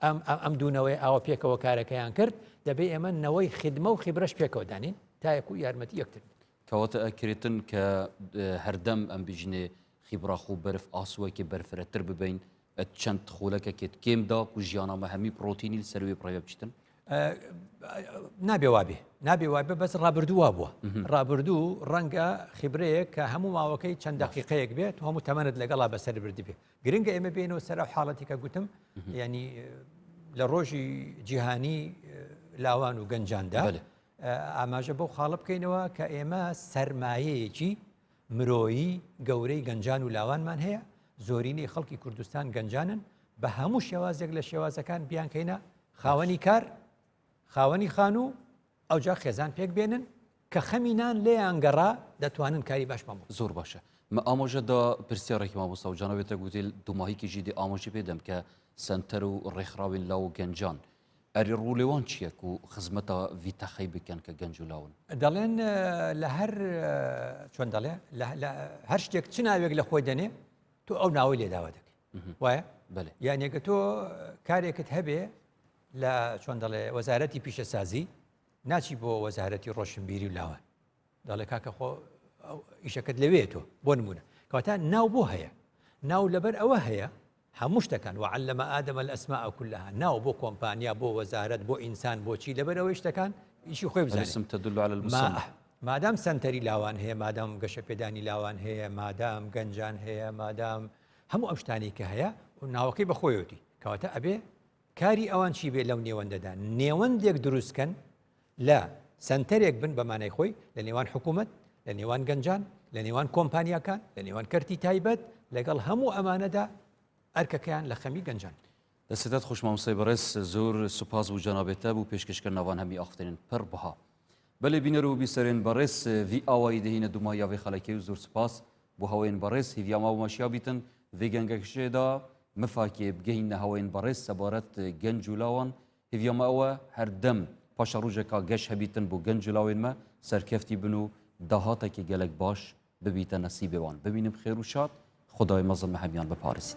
B: ئەم ئەم دوونەوەی ئاوە پێکەوە کارەکەیان کرد دەبێ ئێمە نەوەی خدمە و خیبرەش پێکەوە دانین تاەکو یارمەتی یەکتر کەواتە ئە کرێتن
A: کە هەردەم ئەم بژنێ خیبراخ و بەرف ئاسوەکێ بەرفرەتر ببین چەند خولەکەکێت کێم دا و ژیانامە هەمی پرۆتینیل سەروێ پڕێ بچتن
B: نابێ وابێ نابێ وابێ بەس ڕابردوو وا بووە ڕابردوو ڕەنگە خیبرەیە کە هەموو ماوەکەی چەند دەقیقەیەک بێت هەموو تەمەنت لەگەڵا بەسەر بردی بێ گرنگە ئێمە بێنەوە سەر و حاڵەتی کە گوتم ینی لە ڕۆژی جیهانی لاوان و گەنجاندا ئاماژە بەو خاڵە بکەینەوە کە ئێمە سەرمایەیەکی مرۆیی گەورەی گەنجان و لاوانمان هەیە زۆرینەی خەڵکی کوردستان گەنجانن بە هەموو شێوازێک لە شێوازەکان بیانکەینە خاوەنی کار خاوەنی خانوو ئەوجا خێزان پێک بێنن کە خەمینان لێیان گەڕا دەتوانن کاری باش بەمە زۆر باشە مە
A: ئامۆژەدا پرسیارێکی مامۆستا و جانەوێتە گوتیل دوماهیکی ژیدی ئامۆژی پێدەم کە سنتەر و ڕێکخراوین لاو گەنجان ئەری ڕوو لێوان چییە کو خزمەتە ڤیتەخەی بکەن کە گەنج و لاون. دەڵێن
B: لە هەر چۆن دەڵێ هەر شتێک چ ناوێک لە خۆی دەنێ تۆ ئەو ناوەی لێداوا دەکەی وایە بەێ یانێکە تۆ کارێکت هەبێ لە چۆن دەڵێ وەزارەتی پیشەسازی ناچی بۆ وەزارەتی ڕۆشنبیری و لاوان دەڵێ کاکە خۆ ئیشەکەت لەوێ تۆ بۆ نمونە کەواتە ناو بۆ هەیە ناو لەبەر ئەوە هەیە هەموو شتەکان وعلمە ئادەمە لە ئەسما ئەکلها ناو بۆ کۆمپانیا بۆ وەزارت بۆ ئینسان بۆچی لەبەر ئەوەی شتەکان ئیشی خۆی بزانسم تدل على المسمى
A: مادام سنتەری
B: لاوان هەیە مادام گەشە پێدانی لاوان هەیە مادام گەنجان هەیە مادام هەموو ئەم شتانی کە هەیە و ناوەکەی بەخۆیەتی کەواتە ئەبێ کاری ئەوان چی بێ لەو نێوەندەدا نێوەندێک دروست کەن لە سەنتەرێک بن بە مانای خۆی لە نێوان حکوومەت لە نێوان گەنجان لە نێوان کۆمپانیاکان لە نێوان کەرتی تایبەت لەگەڵ هەموو ئەمانەدا ئەرکەکەیان لە خەمی گەنجان دەستێتات خۆشماموسای
A: بەڕێز زۆر سوپاس بوو جەنابێتە بوو پێشکەشکە ناوان هەمی ئاختێنن پڕ بها بەێ بینەر و بیسەرێن بەڕێز وی ئاوایی دەهینە دوما یاێ خەلەکەی و زۆر سوپاس بو هەوەێن بەڕێز هیڤیا ماو ماشیا بیتن ڤی گەنگەکشێ دا مفاکێ بگەین نە هەوەێن بەڕێز سەبارەت گەنج و لاوان هیڤیا مە ئەوە هەردەم پاشە ڕوژەکا گەش هەبیتن بو گەنج و لاوێن مە سەرکەفتی بن و داهاتەکی گەلەک باش ببیتە نەسیبێوان ببینم خێر و شاد خودای مەزن مە هەمیان بپارێزیت.